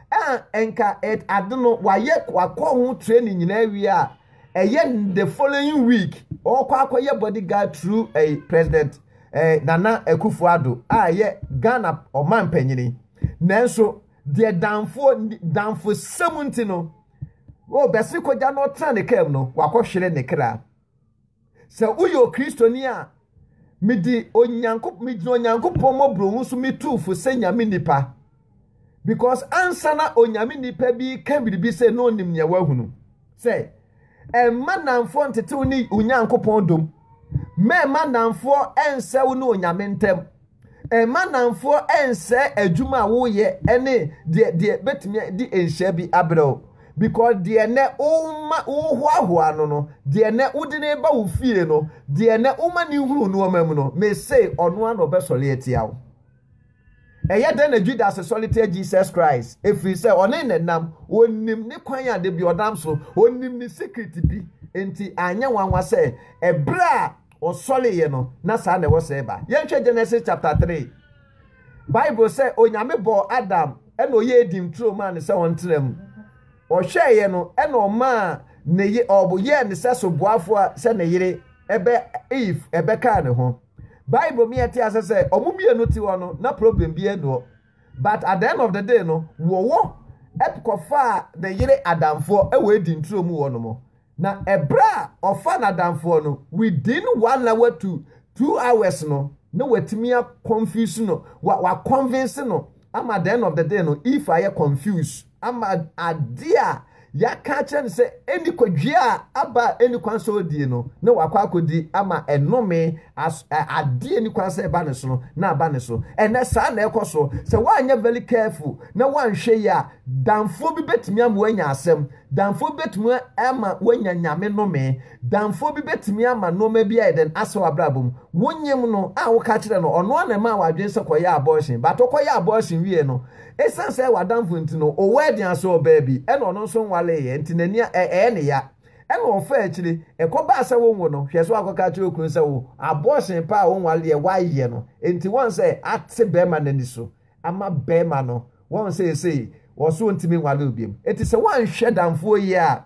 a nka it ade no wayɛ wakɔ ho training nyinaa awie a ɛyɛ the following week ɔkɔ akɔyɛ body guard through ɛyi President ɛɛ Nana Akufo Addo a ɛyɛ Ghana ɔman mpanyini nanso deɛ danfoɔ danfosɛm nti no wɔbɛsi kogya no ɔtena ne kaa mu no wakɔhwere ne kra. Sɛ woyɛ Okristoni a, mede Onyankopɔn megyina Onyankopɔn mmɔborɔhunu so metu fo sɛ Nyame nipa. Because ansa na Onyame nipa bi ka biribi sɛ na onim nea wahunu. Sɛ ɛmma nnamfoɔ ntetew ne Onyankopɔn dom. Mɛmma nnamfoɔ ɛnsɛw ne Onyame ntam. Mma nnamfoɔ nsɛe adwuma a woyɛ ne deɛ deɛ bɛtumi de nhyɛ bi abrɛ wo. Because deɛ nɛ woma wohoahoa no no, deɛ nɛ wode no ba wo fie no, deɛ nɛ woma no hunu nnoɔma mu no, mese ɔno ara na ɔbɛsɔre atia wo. Ɛyɛ dɛn na Judas sɔre tia Jesus Christ? Ɛfiri sɛ ɔne ne nam, ɔnim ne kwan a da bi ɔnam so, ɔnim ne secret bi, nti anyɛ nwanwa sɛ ɛberɛ a Ɔsɔreeɛ no, na saa na ɛwɔ sɛ ɛba. Yɛnhwɛ Genesis chapter three. Bible sɛ Onyame bɔɔ Adam ɛna ɔyɛ Eden turo maa no sɛ ɔntena mu. Ɔhwɛeɛ no ɛna ɔmaa ne ye ɔbo yɛɛ ne sɛ soboafoɔ a sɛ ne yere ɛbɛ Eve ɛbɛkaa ne ho. Bible ma yɛte ase sɛ wɔn mmienu te hɔ no na problem biara nni hɔ. But at the end of the day no wɔwɔ ɛkɔfaa ne yere adamfoɔ ɛwɔ Eden turo mu hɔ nom. Na ɛberɛ a ɔfa n'adamfoɔ no within one na watu two hours no na watumi a confuse no wa wa convince no ama the end of the day no if ayɛ confuse ama adeɛ a yɛaka akyerɛ no sɛ ɛni kɔdwea a aba a ɛni kwan sɛ ɔdie no na wakɔ akɔdi ama ɛnome as adeɛ ni kwan sɛ ɛba ne so no na aba ne so ɛnɛ saa na ɛkɔ so sɛ woanyɛ very careful na woanhwɛ yi a damfoɔ bi bɛtumi ama woanya asɛm Damfoɔ bi bɛtumi ama woanya Nyame nnome. Damfoɔ bi bɛtumi ama nnoɔma bi ayɛ dɛn? Asɛ w'abrabɔ mu. Wo nyem no a woka kyerɛ no, ɔno ara na ɛmaa w'adwene sɛ kɔyɛ abortion. But wokɔ yɛ abortion wieɛ no, ɛsiane sɛ ɛyɛ w'adamfo nti no, wo wedding asɔ ɔbaa bi, ɛna ɔno nso nwaleeɛ nti n'ani a ɛyɛ no ya. Ɛna ɔfaa akyire, ɛkɔbaa sɛ wo nwo no, hwɛ sɛ woakɔka akyerɛ wo kunu sɛ wo abortion paa a wonwaleeɛ woayɛ no nti woahu sɛ ate bɛɛma no ani so. ama bɛɛma no wɔn seesei wɔso ntumi nwale obiam eti sɛ wɔanhwɛ danfoɔ yie a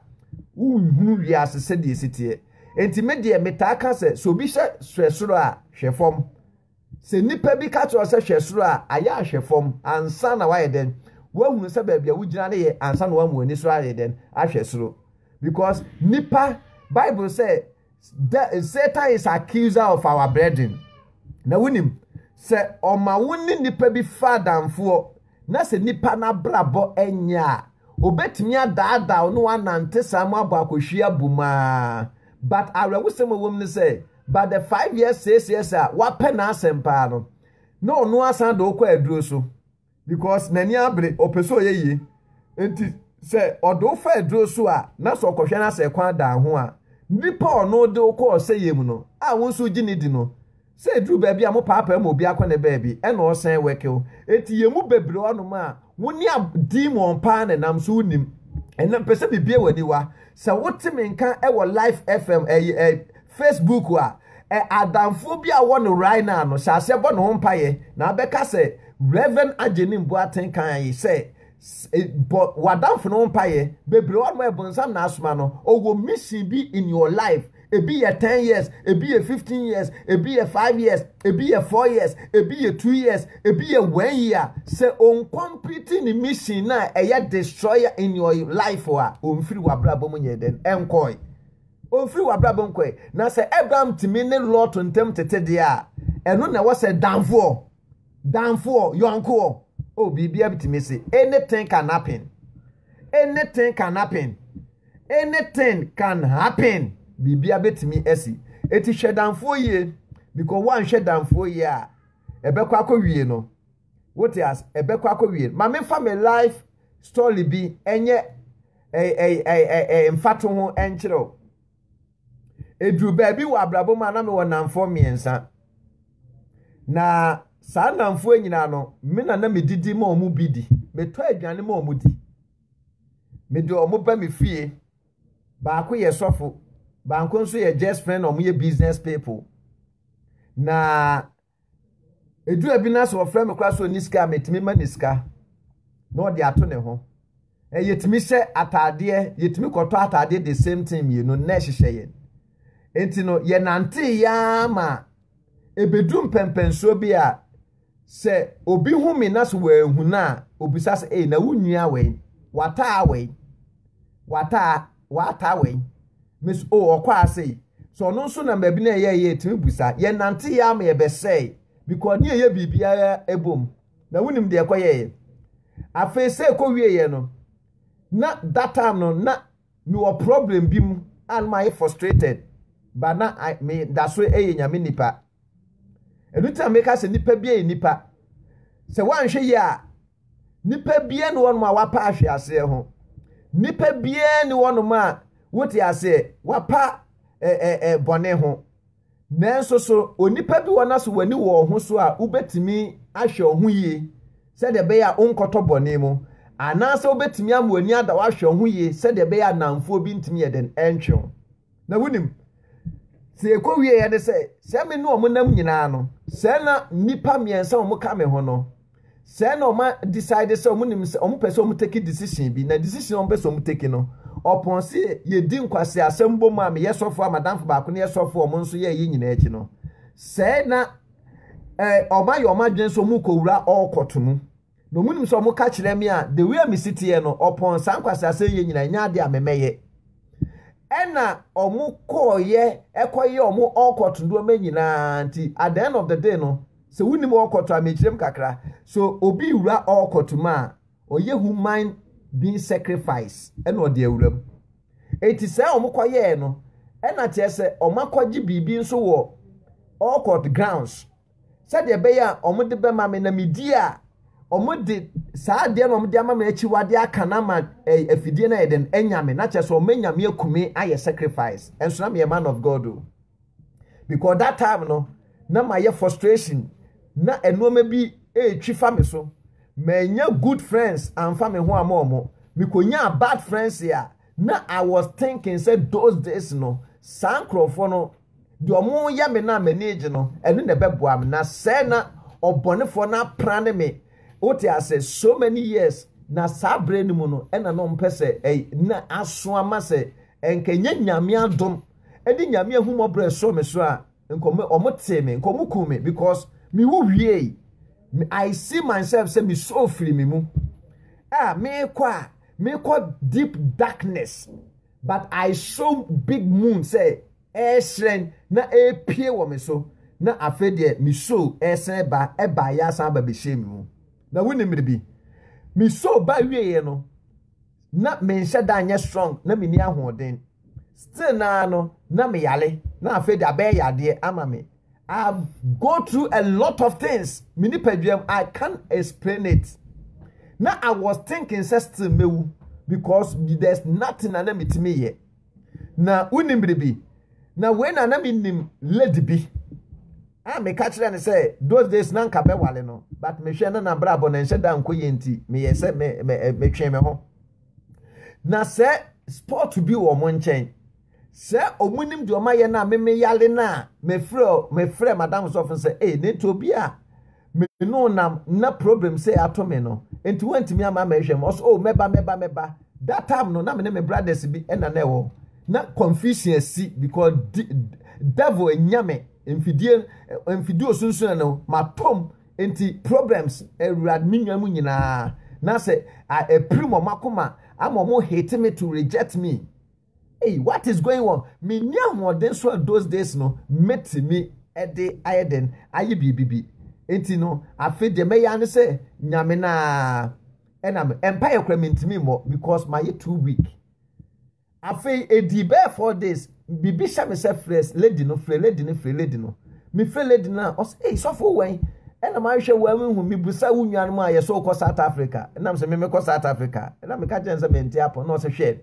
wonhunu wiase sɛdeɛ esi teɛ enti me deɛ metaa ka sɛ sɛ obi hyɛ hwɛ soro a hwɛ fam sɛ nnipa bi ka kyerɛ sɛ hwɛ soro a ayɛ ahwɛ fam ansa na wayɛ dɛn woahunu sɛ baabi a wogyina no yɛ ansa na wɔn ani so ayɛ dɛn ahwɛ soro because nipa bible sɛ The, Satan is accuser of our brethren. Na wonim sɛ ɔma wo ne nipa bi fa adamfoɔ na sɛ nipa no abrabɔ nyɛ a, obetumi adaadaa no anante saa mu abɔ akɔhwie abom aa. But awerɛhosɛm a wɔm ne sɛ, but the five years, six years a wapɛ n'asɛm paa no, na ɔno asan de wokɔ aduro so. Because n'ani abere, ɔpɛ sɛ ɔyɛ yie. Nti sɛ ɔde wo fa aduro so a, na sɛ ɔkɔhwɛ no asɛ kwan da ho a, nipa a ɔno de wo kɔ ɔsɛeɛ mu no, a wo nso wogye no di no, sɛ ɛduru baabi a mopaapae ma obi akɔ ne baabi, ɛna ɔsan wɛke wo. Nti yɛn mu bebree hɔnom a, wo ne a demon paa na ɛnam so wonim. Ɛnna mepɛ sɛ mebue w'aniwa. Sɛ wote me nka wɔ Life FM ɛyɛ ɛyɛ. Facebook a, ɛ adamfo bi a ɔwɔ no right now no, hyɛ aseɛ bɔ ne ho mpaeɛ na abɛka sɛ Reverend Agyenim Boateng kae sɛ bɔ w'adamfo no ho mpaeɛ bebree hɔ nom ɛbonsam na asoma no ɔwɔ mission bi in your life ebi yɛ ten years ebi yɛ fifteen years ebi yɛ five years ebi yɛ four years ebi yɛ two years ebi yɛ one year sɛ ɔncomplete ne mission na ɛyɛ destroyer in your life a ɔmfiri w'abrabɔ mu nyɛ dɛn ɛnkɔe Ɔmfiri w'abrabɔ nkɔ ɛ. Na sɛ Abram tumi ne Lot ntam tete deɛ a, ɛno na ɛwɔ sɛ damfoɔ, damfoɔ, yɔnkoɔ. Oh, biribiara bitumi si. Anything can happen. Anything can happen. Anything can happen. Biribiara betumi asi. Eti hwɛ damfoɔ yie, because woanhwɛ damfoɔ yie a, ɛbɛkɔ akɔwie no. Wote as ɛbɛkɔ akɔwie. Ma memfa me life story bi ɛnyɛ ɛɛ mfato ho ɛnkyerɛ o. Eduru baabi wɔ abrabɔ mu a na mewɔ nnamfoɔ mmiɛnsa. Na saa nnamfoɔ nyinaa no, me na na medidi ma wɔn bi di. Metɔ aduane ma wɔn di. Mede wɔn ba me fie. Baako yɛ sɔfo, baako nso yɛ just friend, wɔn yɛ business people. Na Edu baabi na sɛ wɔfrɛ me koraa sɛ ɔni sika a, metumi ma ne sika na ɔde ato ne ho. Yɛtumi hyɛ ataadeɛ, yɛtumi kɔtɔ ataadeɛ de same thing mmienu na ɛhyehyɛ yɛn. Nti no, yɛnante yaa ma ebedu mpɛmpɛnsoɔ bi a, sɛ obi hu me na sɛ wɔahu no a, obisa sɛ, ei, na wo nua wei, wataa wei, wataa. wɔataa wɔ yi me so o ɔkɔ ase yi so ɔno nso na baabi na ɛyɛ yɛ tumi busa yɛn nante yɛ ama yɛ bɛsɛe because ne yɛyɛ biribiara ɛbom na wonim deɛ ɛkɔ yɛ yɛ afei sɛ ɛkɔ wie yɛ no na that time no na mewɔ problem bi mu a na mayɛ frustrated ba na me da so ɛyɛ nyame nipa Ɛno nti na meka sɛ nipa bia yɛ nipa. Sɛ woanhwɛ yie a, nipa bia ne wɔnom a wapa ahwe aseɛ ho. Nipa bia ne wɔnom a wote aseɛ wapa eh, eh, eh, bɔne ho. Nanso so onipa bi wɔ no so w'ani wɔ ɔho so a wobɛtumi ahwɛ ɔho yie sɛdeɛ ɛbɛyɛ a wonkɔtɔ bɔne mu anaasɛ wobɛtumi ama w'ani ada wahwɛ ɔho yie sɛdeɛ ɛbɛyɛ a namfoɔ bi ntumi yɛ dɛn ɛntwe ho. Na wunim, sɛ ekowieɛ ne sɛ, sɛ me ne wɔn nam nyinaa no, sɛ na nnipa mmiɛnsa a wɔka me ho no, sɛ na wɔn decide sɛ wɔn nim sɛ wɔn pɛ sɛ wɔn take decision bi, na decision wɔn pɛ sɛ wɔn take no, ɔpɔn se yɛdi nkwasi asɛm bom a meyɛ sɔfo a madamfo baako no yɛ sɔfo a wɔn nso yɛ yɛ nyinaa akyi no, sɛ na wɔn ayɛ wɔn adwene sɛ wɔn kowura ɔkɔto mu. Na wɔn nim sɛ wɔn ka kyerɛ me a the way a me si teɛ no ɔpɔn saa nkwaseasɛm yɛ nyinaa nyɛ adeɛ a me mɛyɛ ɛna wɔn kɔɔyɛ ɛkɔyɛ wɔn ɔkɔt nneɛma nyinaa nti at the end of the day no sɛ wɔn nim ɔkɔt a mekyerɛ mu kakra so obi wura ɔkɔt mu a ɔyɛ human being sacrifice ɛna ɔde awura mu eti sɛ wɔn kɔyɛɛ no ɛna kyerɛ sɛ wɔn akɔgye biribi nso wɔ ɔkɔt grounds sɛdeɛ ɛbɛyɛ a wɔde bɛma me na medi a, wɔde saa adeɛ na wɔde ama me akyiwadeɛ aka no ama afidie no ayɛ dɛn anya me na kyerɛ sɛ wɔanya me akume ayɛ sacrifice ɛnso na meyɛ man of God o because that time no na mayɛ frustration na nneɛma bi ɛretwi fa me so manya good friends amfa me ho ama wɔn mekɔnyaa bad friends a na I was thinking sɛ those days no saa nkurɔfoɔ no Deɛ wɔyɛ me no a m'ani regye no, ɛno na ɛbɛboa me, na sɛɛ na ɔbɔnefoɔ no apra ne me, wote ase, so many years, na saa berɛ no mu no, ɛna na ɔmpɛ sɛ ɛy, na aso ama sɛ ɛnka ɛnyɛ Nyame adom ne Nyame ahummɔborɔ a ɛsɔɔ me so a nka ɔmo, ɔmo tee me, nka ɔmo kum me, because me wu wiei, I see myself sɛ me sɔɔ firi me mu a merekɔ a, merekɔ deep darkness. But I saw big moon sɛ ɛrehyerɛn na ɛrepue wɔ me so, na afei deɛ me soul resan ɛba, ɛbaeɛ asan aba bɛhyɛɛ me mu. Na wonim biribi? Me soul ba wieeɛ no, na menhyɛ da nyɛ strong, na menni ahoɔden. Still naa no, na meyare, na afei deɛ abɛyɛ yadeɛ ama me. I have go through a lot of things. Me nipaduam, I can't explain it. Now I was thinking sɛ still mewu because there's nothing na na metumi yɛ. Na wonim biribi. Na wei na na menim lady bi. A meka kyerɛ no sɛ those days na nka bɛwale no but mehwɛ no na brabɔ na nhyɛ da nkɔ yɛ nti meyɛ sɛ metwe me ho. Na sɛ sport bi wɔ mo nkyɛn. Sɛ ɔmo nim deɛ ɔmo ayɛ no a me me yale no a mefrɛ mefrɛ madam sɔfo no sɛ ee nate obi a me ne wo nam na problem sɛ ato me no nti wantumi ama mɛhwɛ mu ɔsɛ oh mɛba mɛba mɛba that time no na me ne me brothers bi ɛna na ɛwɔ na confusion asi because di, devil anya me mfidie mfidie osunsun no matom nti problems awurade me nua mu nyinaa na sɛ ɛpiri mɔ makoma ama ɔmo hate me to reject me Ei what is going on menni ahoɔden so a those days no mɛtumi de ayɛ dɛn ayɛ biribi bi nti no afe deɛ mɛyɛ ano sɛ nyame no a ɛna me ɛmpa yɛ kora mentumi mmɔ because mayɛ too weak afei ɛdi bɛɛ four days biribi hyɛ me sɛ frɛ lady no frɛ lady no frɛ lady no mefrɛ lady no a ɔsɛ ei sɔfo wɛn ɛna mahwɛ wo a mehu mebusa wo nuanom a yɛsɛ wokɔ south africa ɛnam sɛ memekɔ south africa ɛna meka kyɛn sɛ mente apɔ na ɔsɛ hwɛ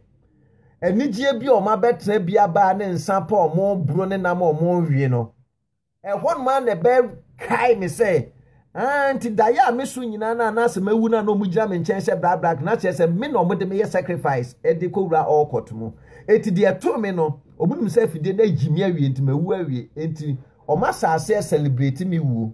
anigyeɛ bi a wɔabɛtena bi aba ne nsa pa a wɔreboro ne nam a wɔrewe no, ɛhɔ nom a na ɛbɛkae me sɛ, ah, nti daeɛ a me so nyinaa no a na asɛ mawu no a na wɔgyina me nkyɛn hyɛ brabrak na kyerɛ sɛ me na wɔde meyɛ sacrifice de kɔwura ɔkɔt mu. Enti deɛ ɛtoo me no, wɔnim sɛ afidie no agyi me awie nti mawu awie. Enti wɔn asase celebrate me wuo.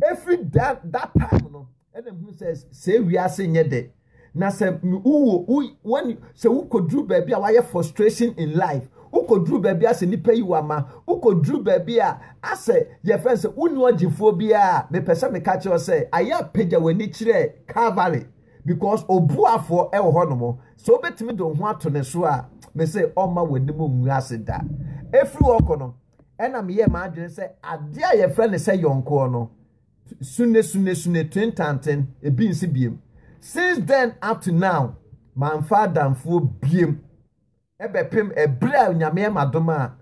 Ɛfiri da, that time no, ɛna mehunu sɛ sɛ wiase nyɛ dɛ na sɛ wowɔ wɔn sɛ wokɔduru baabi a wayɛ frustration in life wokɔduru baabi asɛ nipa yi wama wokɔduru baabi a asɛ yɛfrɛ sɛ wonni ɔgyefoɔ biara mepɛ sɛ meka kyerɛ sɛ ayɛ apagya w'ani kyerɛ Calvary because obuafoɔ ɛwɔ hɔ nom sɛ wobɛtumi de wo ho ato ne so a me sɛ ɔma w'anim ngu ase da ɛfiri hɔ kɔ no ɛna meyɛ m'adwene sɛ adeɛ a yɛfrɛ ne sɛ yɔnkoɔ no Sune sune sune ten tan ten ebi nse biem Since then up to now manfa adamfoɔ biem Ɛbɛpem ɛberɛ a Onyame ɛma dom a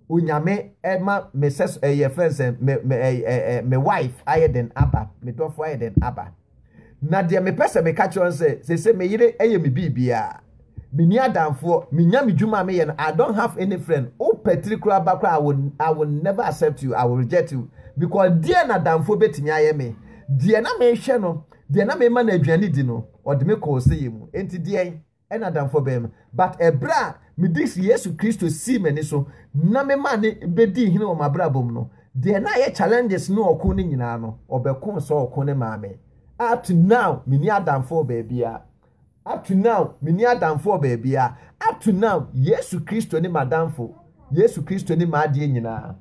Onyame ɛma me sɛ ɛyɛ frɛ no sɛ me me ɛɛ me wife ayɛ den aba Me dɔfoɔ ayɛ den aba. Na deɛ mepɛ sɛ meka kyerɛ no sɛ, sese me yere yɛ me biribiara. Menni adamfoɔ, menya me dwuma a meyɛ no, I don't have any friend. Wopɛ tiri koraa ba koraa, I will, I will never accept you, I will reject you. Because deɛ na adamfoɔ bɛtumi ayɛ me? Deɛ na mehwɛ no, deɛ na mema no aduane di no, ɔde me kɔɔ ɔsɛeɛ mu. Enti deɛn? ɛna adamfoɔ bɛyɛ me. But ɛberɛ a mede Yesu Kristo sii m'ani so na memaa ne bɛdii hene wɔ m'abrabɔ mu no, deɛ na ayɛ challenges ne ɔko no nyinaa no, ɔbɛkoo saa ɔko no maa me. Up to now, menni adamfoɔ baabiara. Up to now, menni adamfoɔ baabiara. Up to now, Yesu Kristo ne m'adamfo. Yesu Kristo ne m'adeɛ nyinaa.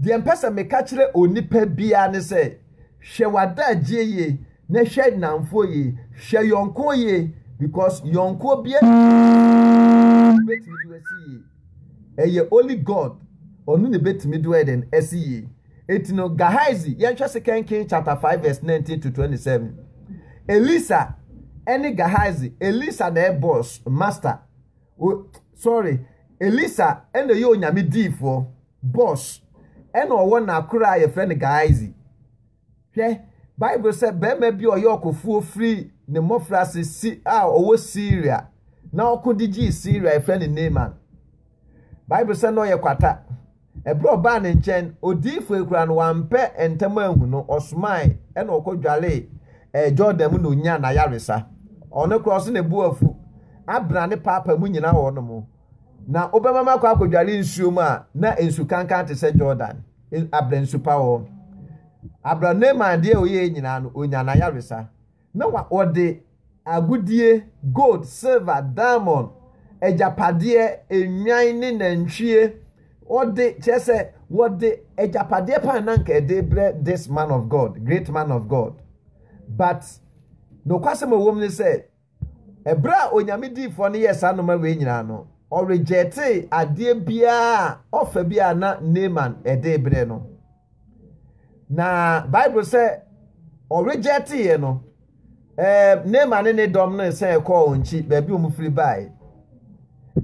Deɛ mpɛ sɛ meka kyerɛ onipa biara ne sɛ, hwɛ w'adagyeɛ yie na hwɛ nnamfoɔ yie, hwɛ yɔnkoɔ yie because yɔnkoɔ biara nni hɔ a ɔbɛtumi de wo asi yie. Ɛyɛ only God, ɔno na ɛbɛtumi de wo ayɛ dɛn? Asi yie. Enti no, Gehazi, yɛnhwɛ Second Kings chapter 5 verse 19 to 27. Elisa ɛne Gehazi, Elisa na ɛyɛ boss, master. O sorry Elisa ɛna ɛyɛ onyame diifoɔ boss ɛna ɔwɔ n'akora a yɛfrɛ no Gehazi hwɛ Bible sɛ bɛrima bi a ɔyɛ ɔkofoɔ firi ne mmɔfra ase si a ɔwɔ Syria na ɔko de gyee Syria yɛfrɛ no Naaman Bible sɛ na ɔyɛ kwata Ɛberɛ a ɔbaa ne nkyɛn, odiyifoɔ yi koraa no, wampɛ ntɛm anhu no, ɔsomae, ɛna ɔkɔdwaree ɛɛ Jordan mu na ɔnyaa n'ayaresa. Ɔno koraa ɔse ne bo afu, Abner ne Paapa mo nyinaa wɔ hɔnom, na wobɛma me akɔ akɔdware nsuo mu a na nsu kankan te sɛ Jordan, Abner nsu pa wɔ hɔ. Abner Naaman deɛ ɔyɛɛ nyinaa no, ɔnyaa n'ayaresa. Na wɔde agodie, gold, silver, diamond, agyapadeɛ, nnwan ne nantwie, wɔde, kyerɛ sɛ, wɔde agyapadeɛ paa na anka ɛde rebrɛ this man of God, great man of God. But, nokwasɛm a ɛwom ne sɛ, ɛberɛ a Onyame diifoɔ no yɛɛ saa nnoɔma wei nyinaa no, ɔrejectee adeɛ biara a, offer biara a na Naaman de rebrɛ no. na bible sɛ ɔregyɛ teeɛ no ɛɛ nema ne ne dɔm no sɛ ɛkɔɔ wɔn akyi baabi wɔn firi baeɛ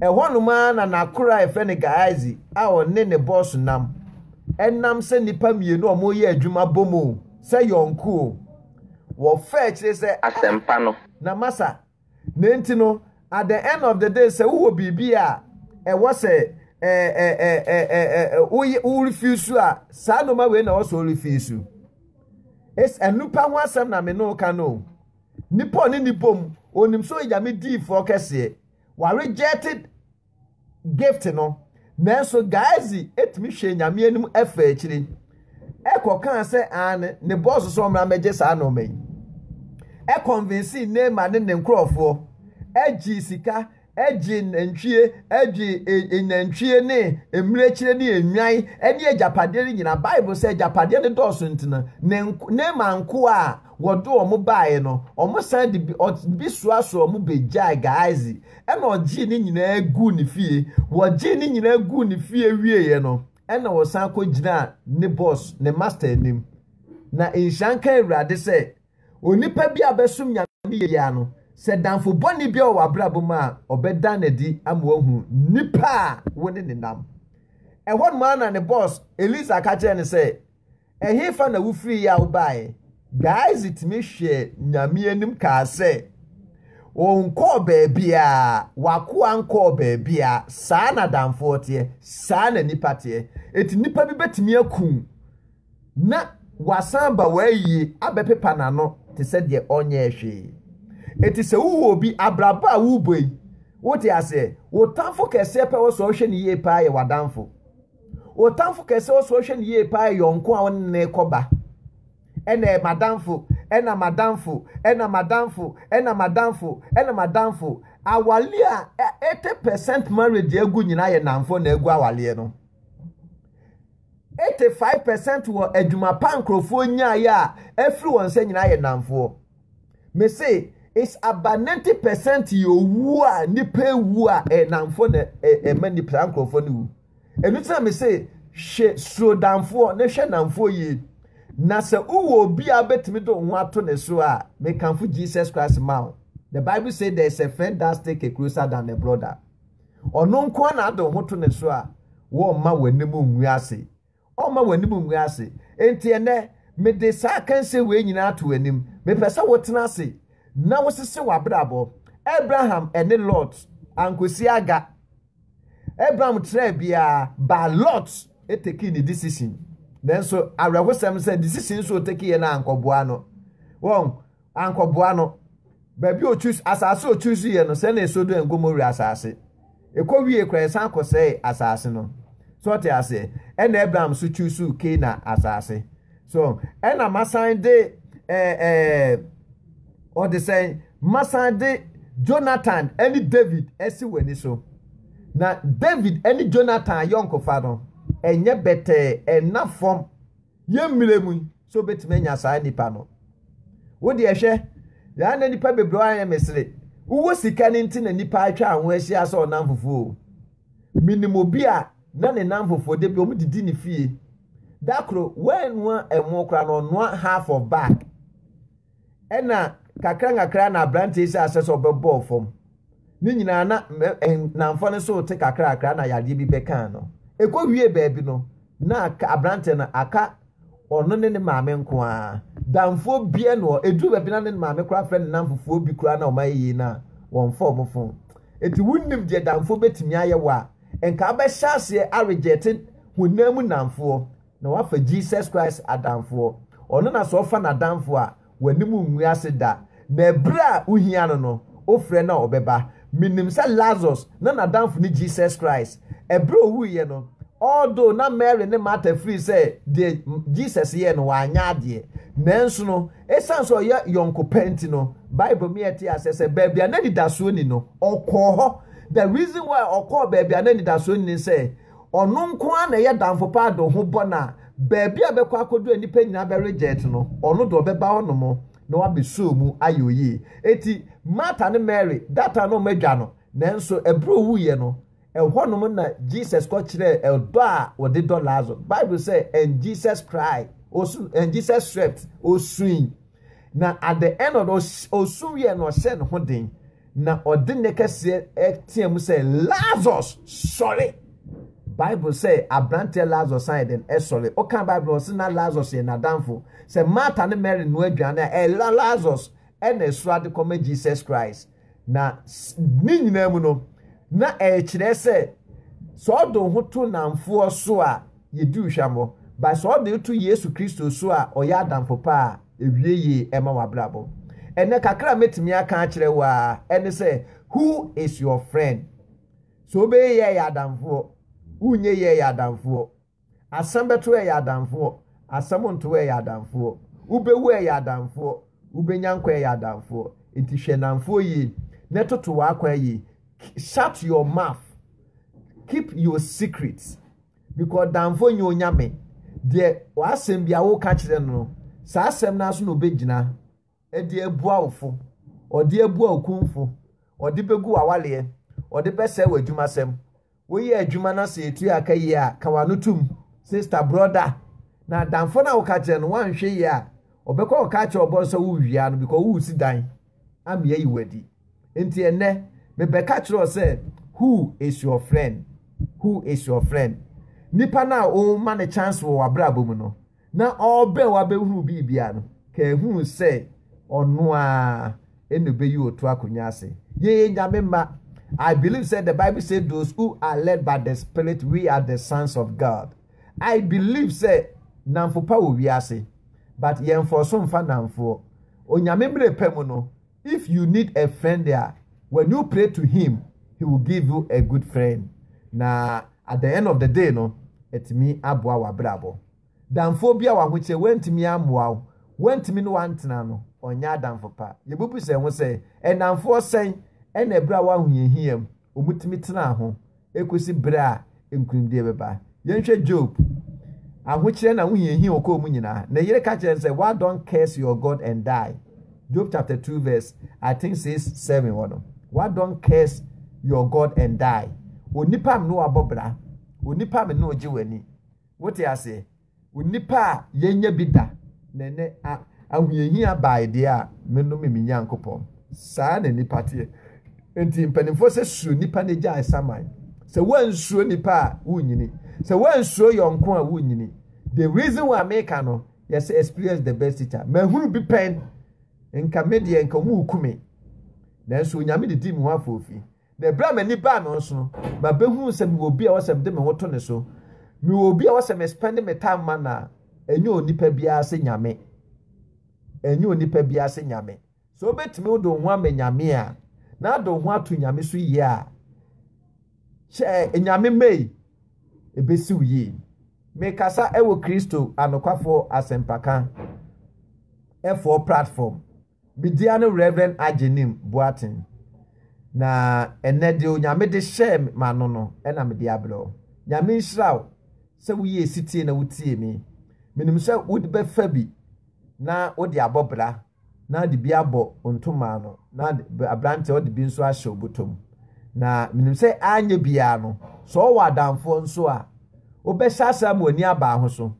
ɛhɔnom ara na n'akora a yɛfrɛ no gaazi a ɔne ne bɔs nam ɛnam sɛ nnipa mmienu a wɔreyɛ adwuma bom o sɛ yɔnko o wɔfa akyire sɛ asɛmpa no na masa Na enti no, at the end of the day, sɛ wowɔ biribi a ɛwɔ sɛ worefi su a, saa nnoɔma wei na ɛwɔ sɛ worefi su. Nnipa ho asɛm na me ne woka no o. Nipa ɔne ne bom, onim sɛ ɔyɛ Nyame diifoɔ kɛseɛ. Ware jɛte gift no, nanso Gehazi tumi hwɛɛ Nyame anim faa akyiri kɔkaa sɛ aane, ne boss sɛ ɔmmra mmɛgye saa nnoɔma yi. Ɛconvinsee Naaman ne ne nkorɔfoɔ, gyee sika, gyee nantwie, gyee nnantwie ne mmirekyire ne nnwan ne agyapadeɛ no nyinaa. Bible sɛ agyapadeɛ no dɔɔso nti no, Naaman nkoa a Wɔde wɔn baeɛ no, wɔsan de bi, ɔde bi soasoa wɔn bɛgyae Gehazi, ɛna ɔgyee ne nyinaa guu ne fie. Wɔgyee ne nyinaa guu ne fie wieeɛ no, ɛna wɔsan kɔgyinaa ne bɔs, ne masta anim. Na nhyira nka Awurade sɛ, onipa bi a ɔbɛsom Nyame yie ara no, sɛ damfo bɔne bi wɔ w'abrabɔ mu a, ɔbɛda no adi ama woahu nipa a wo ne no nam. Ɛhɔ nom ara na ne bɔs, Elisa ka kyerɛɛ no sɛ, Ɛhefa na wofiri yaw baeɛ? Gyasi tumi hwɛɛ Nyame anim kaa sɛ, Ɔnkɔɔ baabiaa, w'akoa nkɔɔ baabiaa, saa na adamfoɔ teɛ, saa na nipa teɛ. Enti nipa bi bɛtumi aku wo na wasan aba w'ayie abɛpepa n'ano te sɛ deɛ ɔnyɛɛ hwee. Enti sɛ wohu obi, abrabɔ a worebɔ yi, wote aseɛ? Wo tamfo kɛseɛ pɛ wɔ sɛ ɔhwɛ no yie paa yɛ w'adamfo. Otamfo kɛse ɔsɛ ɔhwɛ no yie paa yɔnko a ɔne ne kɔba. Ɛna madamfo, ɛna madamfo, ɛna madamfo, ɛna madamfo, ɛna madamfo. Awale a 80% marriage agu nyinaa yɛ namfo na agu awaleɛ no. 85% wɔ adwuma pa nkurɔfoɔ nyaeɛ a afiri wɔn nsa nyinaa yɛ namfoɔ. Me se it's about ninety percent yɛ owu a nipa ewu a ɛnamfo na ɛma nipa saa nkurɔfoɔ no wu ɛnu ti na me se hwɛ suro danfoɔ na hwɛ namfoɔ yie na sɛ wowɔ obi a wobɛtumi de wo ho ato ne so a mekamfo jesus christ ma wo the bible say there is a friend that stick a closer than a brother ɔno nko a na ade wo ho to ne so a wɔmma w'anim ngu ase Ɔremma w'anim ngu ase. Enti ɛnnɛ, mede saa akansie wei nyinaa ato w'anim. Mepɛ sɛ wotena ase na wosese w'abrabɔ. Abraham ne Lot ankɔsi aga. Abraham traa biara, but Lot tekii ne decision. Nanso awerɛhosɛm sɛ decision nso ɔtekeeɛ no ankɔboa no. Wɔn. ankɔboa no. Baabi a otu asase a otu so yɛ no, sɛnee Sodom and Gomorrah asase. Ɛkɔ wie kora ɛsan kɔsɛe asase no. So ɔte aseɛ? Ɛna Abraham so tu so Kena asase. So ɛna masan de ɛɛ ɛɛ ɔde sɛn masan de Jonathan ɛne David ɛsi wɔn ani so. Na David ɛne Jonathan yɔnkofa no ɛnyɛ bɛtɛɛ ɛna fam. Yɛn mmerɛ mu yi, sɛ wobɛtumi anya saa nnipa no? Wo deɛ hwɛ, yɛa na nnipa bebree ayɛ mesere. Wowɔ sika no nti na nnipa atwa wo ho ahyia sɛ ɔnamfofoɔ o. Menim obi a na ne namfofoɔ da bi wɔdidi ne fie. Da koro, wannoa ɛmo koraa no, ɔnoa half of bag. ɛna nkakrankakra na aberante yi sɛ asɛ sɛ ɔbɛbɔɔ fam ne nyinaa na nnamfɔ no so te kakrakra na yadeɛ bi bɛkaa no ɛkɔ wie baabi no na aberante no aka ɔno ne ne maame nko ara damfoɔ bia no hɔ ɛduru baabi na ne maame koraa frɛ ne nnamfofoɔ bi koraa na ɔma yɛyie no a wɔmfa ɔmo fo ɛti wonnim deɛ damfoɔ bɛtumi ayɛ wɔ a nka abɛhyɛ aseɛ aregyɛte honam mu nnamfoɔ na wafa Jesus Christ adamfoɔ. Ɔno na sɛ ɔfa n'adamfoɔ a, w'anim ngu ase da, na ɛberɛ a wohia no no, wofrɛ no a ɔbɛba. Menim sɛ Lazarus, na n'adamfo ne Jesus Christ. Ɛberɛ a ɔwuiɛ no, although na Mary ne Martha firi sɛ deɛ Jesus yɛɛ no wanyɛ adeɛ, nanso no, ɛsiane sɛ ɔyɛ yɔnko pa nti no, Bible ma yɛte aseɛ sɛ baabi a na anidasoɔ nni no, ɔkɔɔ hɔ. The reason why ɔkɔɔ baabi a na anidasoɔ nni ne sɛ, Ɔno nko ara na ɛyɛ damfo paa de ho bɔ no a, baabi a ɔbɛkɔ akɔduru a nnipa nyinaa bɛregyɛɛt no, ɔno deɛ ɔbɛba hɔ nom na wabɛsɔɔ mu ayɛ oyie. Enti Martha ne Mary, that time na wɔn adwa no, nanso ɛberɛ ɔwuiɛ no, ɛhɔ nom na Jesus kɔkyerɛɛ ɛdɔ a ɔde dɔ Lazaro. Bible sɛ, and Jesus cried, ɔsu, and Jesus swept, ɔsuui. Na at the end of the osu wiɛ na ɔhyɛ ne ho den na ɔde ne kɛseɛ ɛteɛ mu sɛ Lazarus sɔre Bible sɛ abranteɛ Lazarus ayɛ den ɛsɔre ɔka Bible ɔsɛ na Lazarus yɛ n'adanfo sɛ Martha ne Mary no aduane a ɛla Lazarus ɛna ɛsoro ade kɔma Jesus Christ Na ne nyinaa mu no, na ɛkyerɛ sɛ sɛ ɔde ho to nnamfoɔ so a, yɛdi wo hwammɔ. But sɛ ɔde to Yesu Kristo so a, ɔyɛ adamfo pa a, ɛwie yie ɛma w'abrabɔ. Ɛnɛ kakra a mɛtumi aka akyerɛ wo ara ɛne sɛ, who is your friend? Sɛ wobɛyɛ yɛɛ yɛ adamfoɔ, wonyɛ yɛɛ yɛ adamfoɔ. Asɛm bɛto ɛyɛ adamfoɔ, asɛm nto ɛyɛ adamfoɔ. Wobɛwu ɛyɛ adamfoɔ, wobɛnya nkwa ɛyɛ adamfoɔ. Enti hwɛ nnamfoɔ yie na toto w'akwan yie. Shut your mouth. Keep your secrets. Because nnamfoɔ nyɛ onyame. Deɛ w'asɛm bi a woka kyerɛ no no, saa asɛm no ara so na ɔbɛgyina de abua wo fo, ɔde abua wo kumfo, ɔde bɛgu w'awaleɛ, ɔde bɛsɛe w'adwumasɛm. Woyɛ adwuma na sɛ ɛtua aka yie a, ka w'ano tom. Sista, brɔda, na adamfo no a woka kyerɛ no woanhwɛ yie a, ɔbɛkɔ akɔka akyerɛ ɔbɔn sɛ worewia no because woresi dan ama yɛayi wo adi. Nti ɛnnɛ, mebɛka kyerɛ wo sɛ who is your friend? Who is your friend? Nipa no a woma no chance wɔ w'abrabɔ mu no, na ɔrebɛn wo abɛhunu biribi a no, kaa hunu sɛ ɔno ara ɛna ɔbɛyi ɔto akonnwa ase. Yɛyɛ Nyame mma. I believe sɛ the Bible say those who are led by the spirit we are the sons of God. I believe sɛ namfo pa wɔ wiase but yɛmfɔso mfa namfoɔ. Onyame mmerɛ pɛ mu no, If you need a friend a, when you pray to him, he will give you a good friend. Na at the end of the day no, ɛtumi aboa w'abrabɔ. Damfoɔ bi a w'ahokyɛ wantumi ammoa wo, wantumi ne wantena no, ɔnyɛ adamfo pa. Yɛbubu sɛ ho sɛ, ɛnamfoɔ sɛn ɛna ɛberɛ a w'ahohiahiam, wɔtumi tenaa ho ekosi bere a nkonimdi bɛba. Yɛnhwɛ Job. Ahokyerɛ na ahohiahia a ɔkɔɔ mu nyinaa, ne yere ka kyerɛɛ no sɛ, Why don't curse your God and die? Job chapter two verse I think six seven hɔ no, Why don't curse your God and die? Onipa me ne wabɔ bra, onipa me ne ogye w'ani. Wote aseɛ? Onipa a yɛnnya bi da, na ɛnnɛ ahohiahia bae deɛ a, menome me Nyankopɔn. Saa na nnipa teɛ. Enti mpanimfoɔ sɛ suro nnipa na gyae saman. Sɛ woansuro nnipa a, wonnyini. Sɛ woansuro yɔnko a, wonnyini. The reason why meka no, yɛsɛ experience the best teacher. Mahunu bi pɛn, nka me deɛ nka wɔn reku me. Nanso Onyame de di me ho afoofi. Na bere a m'ani baa no nso no, mabehuu sɛ mewɔ obi a ɛwɔ sɛ mede me ho to ne so. Mewɔ obi a ɛwɔ sɛ mespɛnde me tae ma no a, ɛnyɛ onipa biara sɛ Nyame. Ɛnyɛ onipa biara sɛ Nyame. Sɛ wobetumi wode wo ho ama Nyame a, na ade wo ho ato Nyame so yie a, hyɛ Nyame mmɛyi, ebesi wo yie. Mekasa wɔ Kristo anokwafoɔ asɛmpaka foɔ platform. Me dia ne Rev. Agyenim Boateng, na ɛnnɛ deɛ Onyame de hyɛɛ m'ano no na mede abrɛ wo. Nyame nhyira wo sɛ woyɛɛ setie na wotiee me. Menim sɛ wode bɛfa bi na wode abɔ bra na wode bi abɔ ntoma ano na abranteɛ wode bi nso ahyɛ wo botom. Na menim sɛ anyɛ biara no, sɛ ɔwɔ adamfoɔ nso a, wobɛhyɛ aseɛ ama w'ani aba ho so.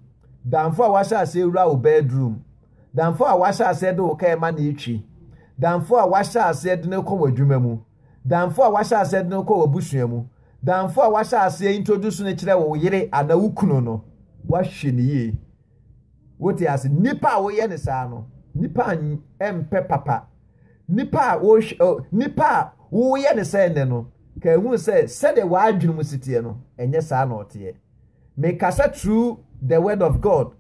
Damfoɔ a wahyɛ aseɛ awura wo bedroom Damfo a woahyɛ aseɛ de wo kaa ma no retwi. Damfo a woahyɛ aseɛ de no rekɔ w'adwuma mu. Damfo a woahyɛ aseɛ de no rekɔ w'abusua mu. Damfo a woahyɛ aseɛ introduce no kyerɛ wo yere anaa wo kunu no, woahwɛ no yie. Wote ase? Nnipa a woyɛ no saa no, nnipa a ɛmpɛ papa. Nnipa a wohwɛ, nnipa a woyɛ no sɛ nnɛ no, ka ehu sɛ sɛdeɛ w'adwene mu si teɛ no, ɛnyɛ saa na ɔteɛ. Mekasa through the word of God.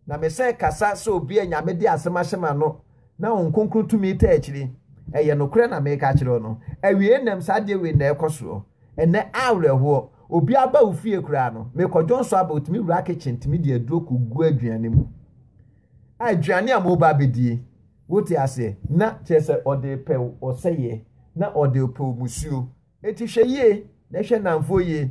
Na mesan kasa sɛ obi a Nyame de asɛm ahyɛ m'ano na Honhom Kronkron tumi taa akyiri. Ɛyɛ nokorɛ na mereka akyerɛ wo no. Awiei nnam saa adeɛ wei na ɛrekɔ soɔ. Ɛnnɛ, awerɛhoɔ. Obi aba wo fie koraa no, merekɔ dwonsɔ aba, ɔtumi wura kitchen tumi de aduro kɔgu aduane mu. Aduane a moreba abɛdie. Wote aseɛ? Na kyerɛ sɛ ɔde repɛ wo ɔsɛeɛ, na ɔde repɛ wo musuo. Enti hwɛ yie na hwɛ nnamfoɔ yie,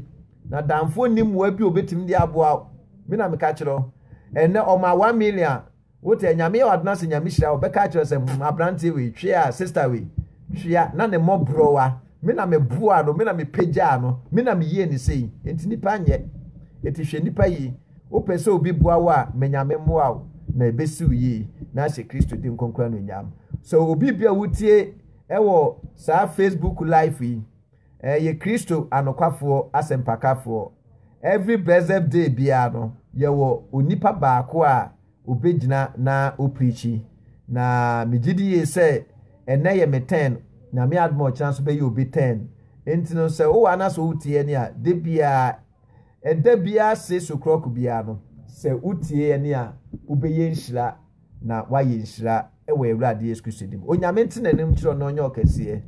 na damfoɔ nni mmoa bi a ɔbɛtumi de aboa wo. Me na meka kyerɛ wo. Ɛnnɛ ɔmaa one million a, wotɛ Nyame yɛ wo adena sɛ Nyame hyira wo, bɛka akyerɛ sɛ hmm abranteɛ wei twea, sister wei twea, na ne mmɔborɔwa, me na me boaa no, me na me pagyaa no, me na me yie ne sei, enti nipa nyɛ. Enti hwɛ nipa yie, wopɛ sɛ obi boa wo a, ma Nyame mmoa wo, na ɛbɛsi wo yie, na ahyɛ Kristo din kronkron anuonyam. So obi bi a wotie, Ɛwɔ saa Facebook life yi eh, yɛ Kristo anokwafoɔ asɛmpakafoɔ. Every blessed day biara no, yɛwɔ onipa baako a obɛgyina na opreachi. Na megye di yie sɛ ɛnɛ yɛ me turn, Nyame adom a ɔkyena nso bɛyɛ obi turn. Enti no sɛ wowɔ ana sɛ wotie ɛne a, da biara, ɛda biara six o'clock biara no, sɛ wotie ɛne a, wobɛyɛ nhyira. na wayɛ nhyira wɔ awurade yesu kristo dim onyame nte n'anim kyerɛ na ɔnyɛ ɔkɛseɛ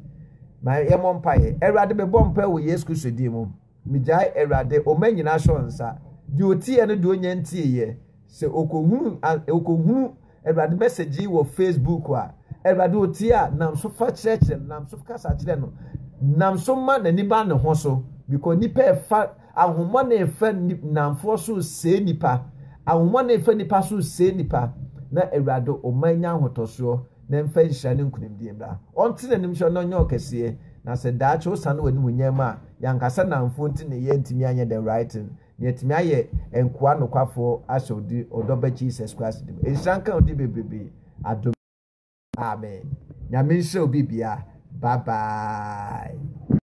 ma yɛmmɔ mpaeɛ awurade mebɔ mpae wɔ yesu kristo din mu megyae awurade ɔma nyinaa hyɛ nsa deɛ ɔtiɛ no deɛ ɔnya ntieɛ sɛ ɔkɔhunu ɔkɔhunu awurade message yi wɔ facebook a awurade ɔtie a nam so fa kyerɛkyerɛ no nam so kasa kyerɛ no nam so ma n'ani ba ne ho so because nipa ɛfa Ahonhommɔne fa nni nnamfoɔ so sɛe nnipa, ahonhommɔne fa nnipa so sɛe nnipa, na Awurade ɔmma nnya ahotɔsoɔ, na ɛmfa nhyira ne nkonimdie mmra. Ɔnte n'anim so na ɔnyɛ ɔkɛseɛ, na sɛ daakye wosane w'animuonyam mu a, yɛn ankasa nnamfoɔ nti ne yɛantumi anyɛ the right thing, na yɛatumi ayɛ nkoa nokwafoɔ ahyɛ wo din, ɔdɔ ba Jesus Christ din mu. Nhyira nka wo din bebrebe, adom Amen. Nyame nhyira wo biribiara. Bye bye.